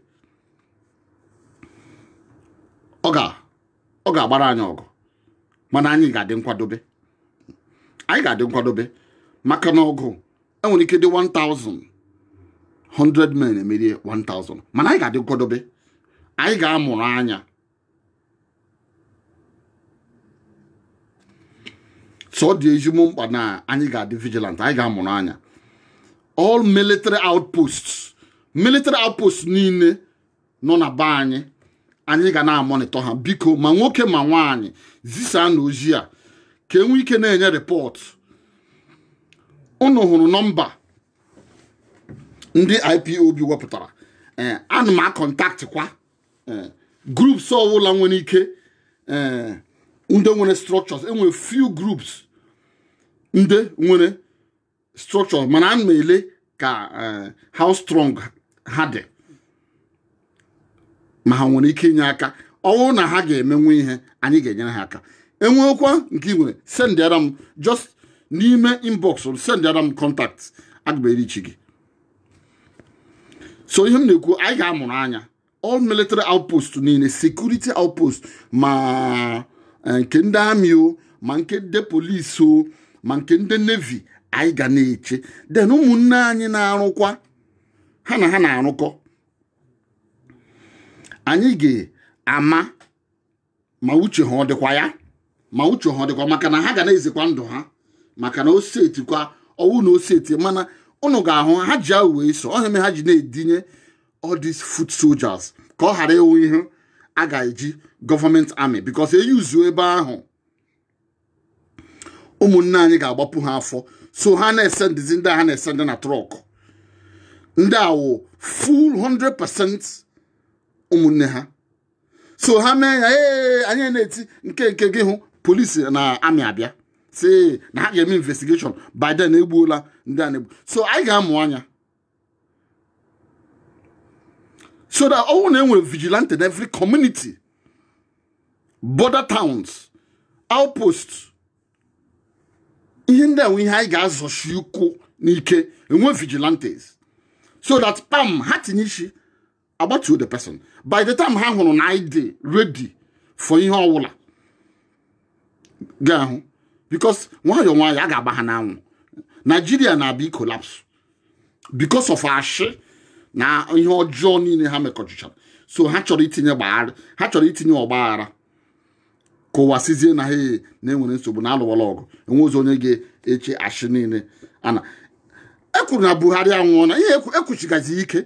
Speaker 1: ọ ga-agbara anyị ọgụ mana anyị ga-adị nkwadobe anyị ga-adị nkwadobe maka na ọgụ enwere ike dị 1000 100 men emerie 1000 mana anyị ga-adị nkwadobe anyị ga-amụrụ anya so ọ dị ezigbo mkpa na anyị ga-adị vigilant anyị ga-amụrụ anya all military outposts military outposts niile nọ na be anyị anyị ga na-amonitor ha biko ma nwoke ma nwaanyị zisaanụ ozi a ka enwe ike na-enye report unu hụrụ nọmba ndị IPOB wepụtara ee ana m acontactkwa ee groups ọwụla nwere ike ee ndị nwere structures enwere few groups ndị nwere structure mana ana m ele ka eh, how strong ha dị ma ha nwere ike inye aka ọwụrụ na ha ga-emenwe ihe anyị ga-enyere ha aka enweekwa nke ị nwere sendịara m just n'ime inbox sendịara m contact a ga-abịa irichi gị so ihe m na-ekwu anyị ga-amụrụ anya all military outpost niile security outpost ma eh, nke ndị army o ma nke ndị police o ma nke ndị navy anyị ga na-eche then ụmụnne anyị na-arụkwa ha na ha na-arụkọ anyị ga-ama ma uche ha ọ dịkwa ya ma uche ha ọ dịkwa maka na ha ga na-ezekwa ndụ ha maka na ose etikwa ọwụ na ose eti mana unu ga-ahụ ha ji ahụ wee so ọ ihe mere ha ji na-edinye all these foot soldiers ka ọ ghara ịwụ ihe a ga-eji government army because eyuzuo ebe ahụ ụmụnne anyị ga-agbapụ ha afọ so ha na-esendizi ndị ha na-esendi na truck ndị a wụ full 100% ụmụnne ha so ha mee ya ee anyị na-eti nke nke gị hụ police na army abịa sị na ha ga-eme investigation by then egbuola ndị a na-egbu so anyị ga-amụ anya so that ọwụ na e nwere vigilante in every community border towns outpost ihe ndị a wụ ihe anyị ga-azọchi ụkwụ n'ike enwe vigilantes so that pam ha tinye isi agbatuo the person by the time ha hụrụ na anyị dị ready for ihe ọwụla ga-ahụ because nwayọọ nwayọọ a ga-agba ha n'anwụ Nigeria na-abịa ikolapsụ because of ashị na ihe ọjọọ niile ha mekọchichara so ha chọrọ itinye ọgba ha chọrọ itinye ọgbaghara ka ụwa sịzie na ha na-enwere nsogbu na a lụwala ọgụ enwezi onye ga-eche ashị niile a na-ekwuru na buhari anwụọ na ihe ekwusigazi ike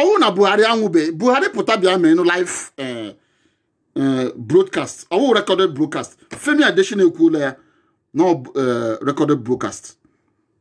Speaker 1: ọwụrụ na buhari anwụbe buhari pụta bịa meenụ live eh, eh, broadcast ọwụ recorded broadcast femi adesina ekwuola ya na eh, recorded broadcast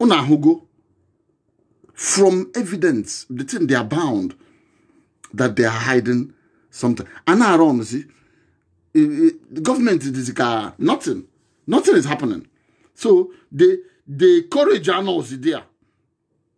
Speaker 1: unu ahụgo from evidence the thing they are bound that they are hiding something a na-arọnzi government dịzi ka nothing nothing is happening so the the courage anọzi there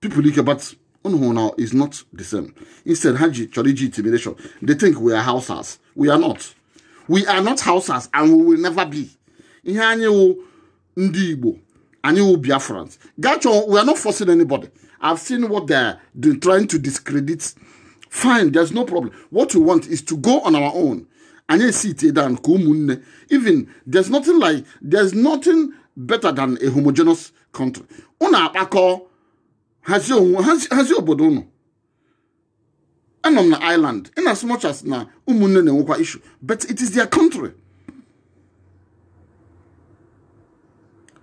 Speaker 1: people like but unu hụrụ na is not the same instead ha ji chọrọ iji intimidation they think we are Hausas we are not we are not Hausas and we will never be ihe anyị wụ ndị Igbo anyị wụ Biafrans gachọ we are not forcing anybody I've seen what they are trying to discredit fine there's no problem what we want is to go on our own anyị e-sit down ka ụmụnne even there's nothing like there's nothing better than a homogeneous country unu akpakọ hazie obodo unu anọ m na Ireland in as much as na ụmụnne na-enwekwa issue but it is their country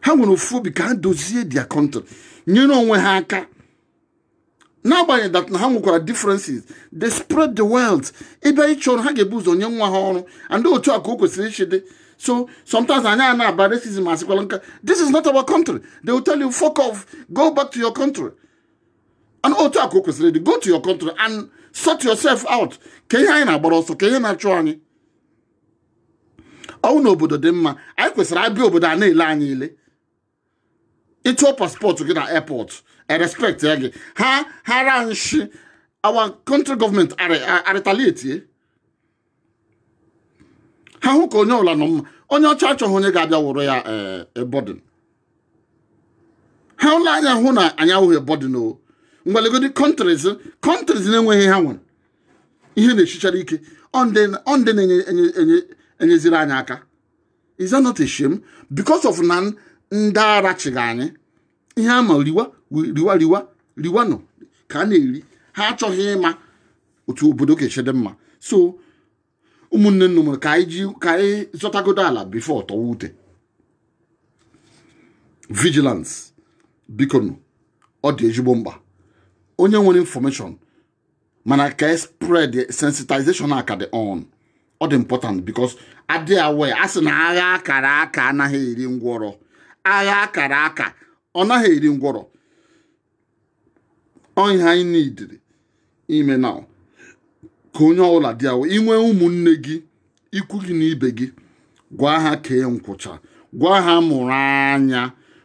Speaker 1: ha nwere ofu obi ka ha dozie their country nyere onwe ha aka n'agbanyeghị that na ha nwekwara differences they spread the wealth ị bịa ịchọ ọrụ ha ga-ebu ụzọ nye nwa ha ọrụ and otu a ka o kwesịrị ishi dị so sometimes anyị a na-aba racism asịkwala nka this is not our country they will tell you fuck off go back to your country and otu a ka o kwesịrị dị go to your country and sort yourself out ka ihe anyị na-agbara ọsọ ka ihe na-achụ anyị ọ wụ na obodo dị mma anyị kwesịrị ịbịa obodo a na-ele anyị ile ị tụọ passport gị na airport e-respect-ia gị ha hara nshi our country government a-retaliate-ie ha hụ ka onye ọla nọ mma onye ọcha achọghị onye ga-abịa wụrụ ya a burden eh, ha lee anya hụ na anyị awụghị a burden o ngwa legodi countries countries na-enweghị ha nwere ihe na-eshichara ike ọ ndị na-enyeziri anyị aka is that not a shame because of na ndị ara chịga anyị ihe ha ma riwa riwa riwa riwanụ ka a na-eri ha achọghị ịma otu obodo ga-esi dị mma so ụmụnne nnu mụrụ ka anyị ji ka anyị zọtagodo ala before tọwa ute vigilance bikonụ ọ dị ezigbo mkpa onye nwere information mana ka e spread sensitization a ka dị on ọ dị important because a dị aware a sị na agha akara aka anaghị eri ngwọrọ agha akara aka ọ naghị eri ngwọrọ ọ ihe anyị needịrị ime now ka onye ọbụla dị aware i nwee ụmụnne gị ikwu gị na ibe gị gwa ha kee nkwụcha gwa ha mụrụ anya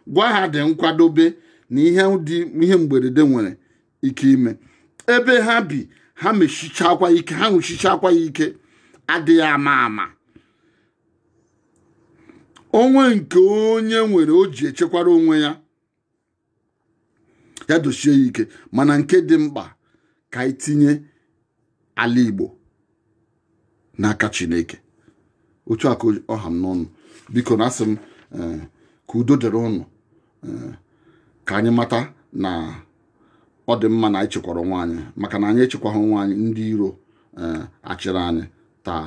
Speaker 1: gwa ha dị nkwadobe na ihe mgberede nwere ike ime ebe ha bi ha mechichakwa ike ha nwụchichakwa ya ike a dịghị ama ama o nwee nke onye nwere o ji echekwara onwe ya ya dosie ya ike mana nke dị mkpa ka anyị tinye ala Igbo n'aka Chineke otu a ka ọ ha m n'ọnụ bikonụ asị m eh, ka udo dịrị ụnụ eh, ka anyị mata na ọ dị mma na anyị chekwara onwe anyị maka na anyị echekwaghị onwe anyị ndị iro eh, achịrị anyị taa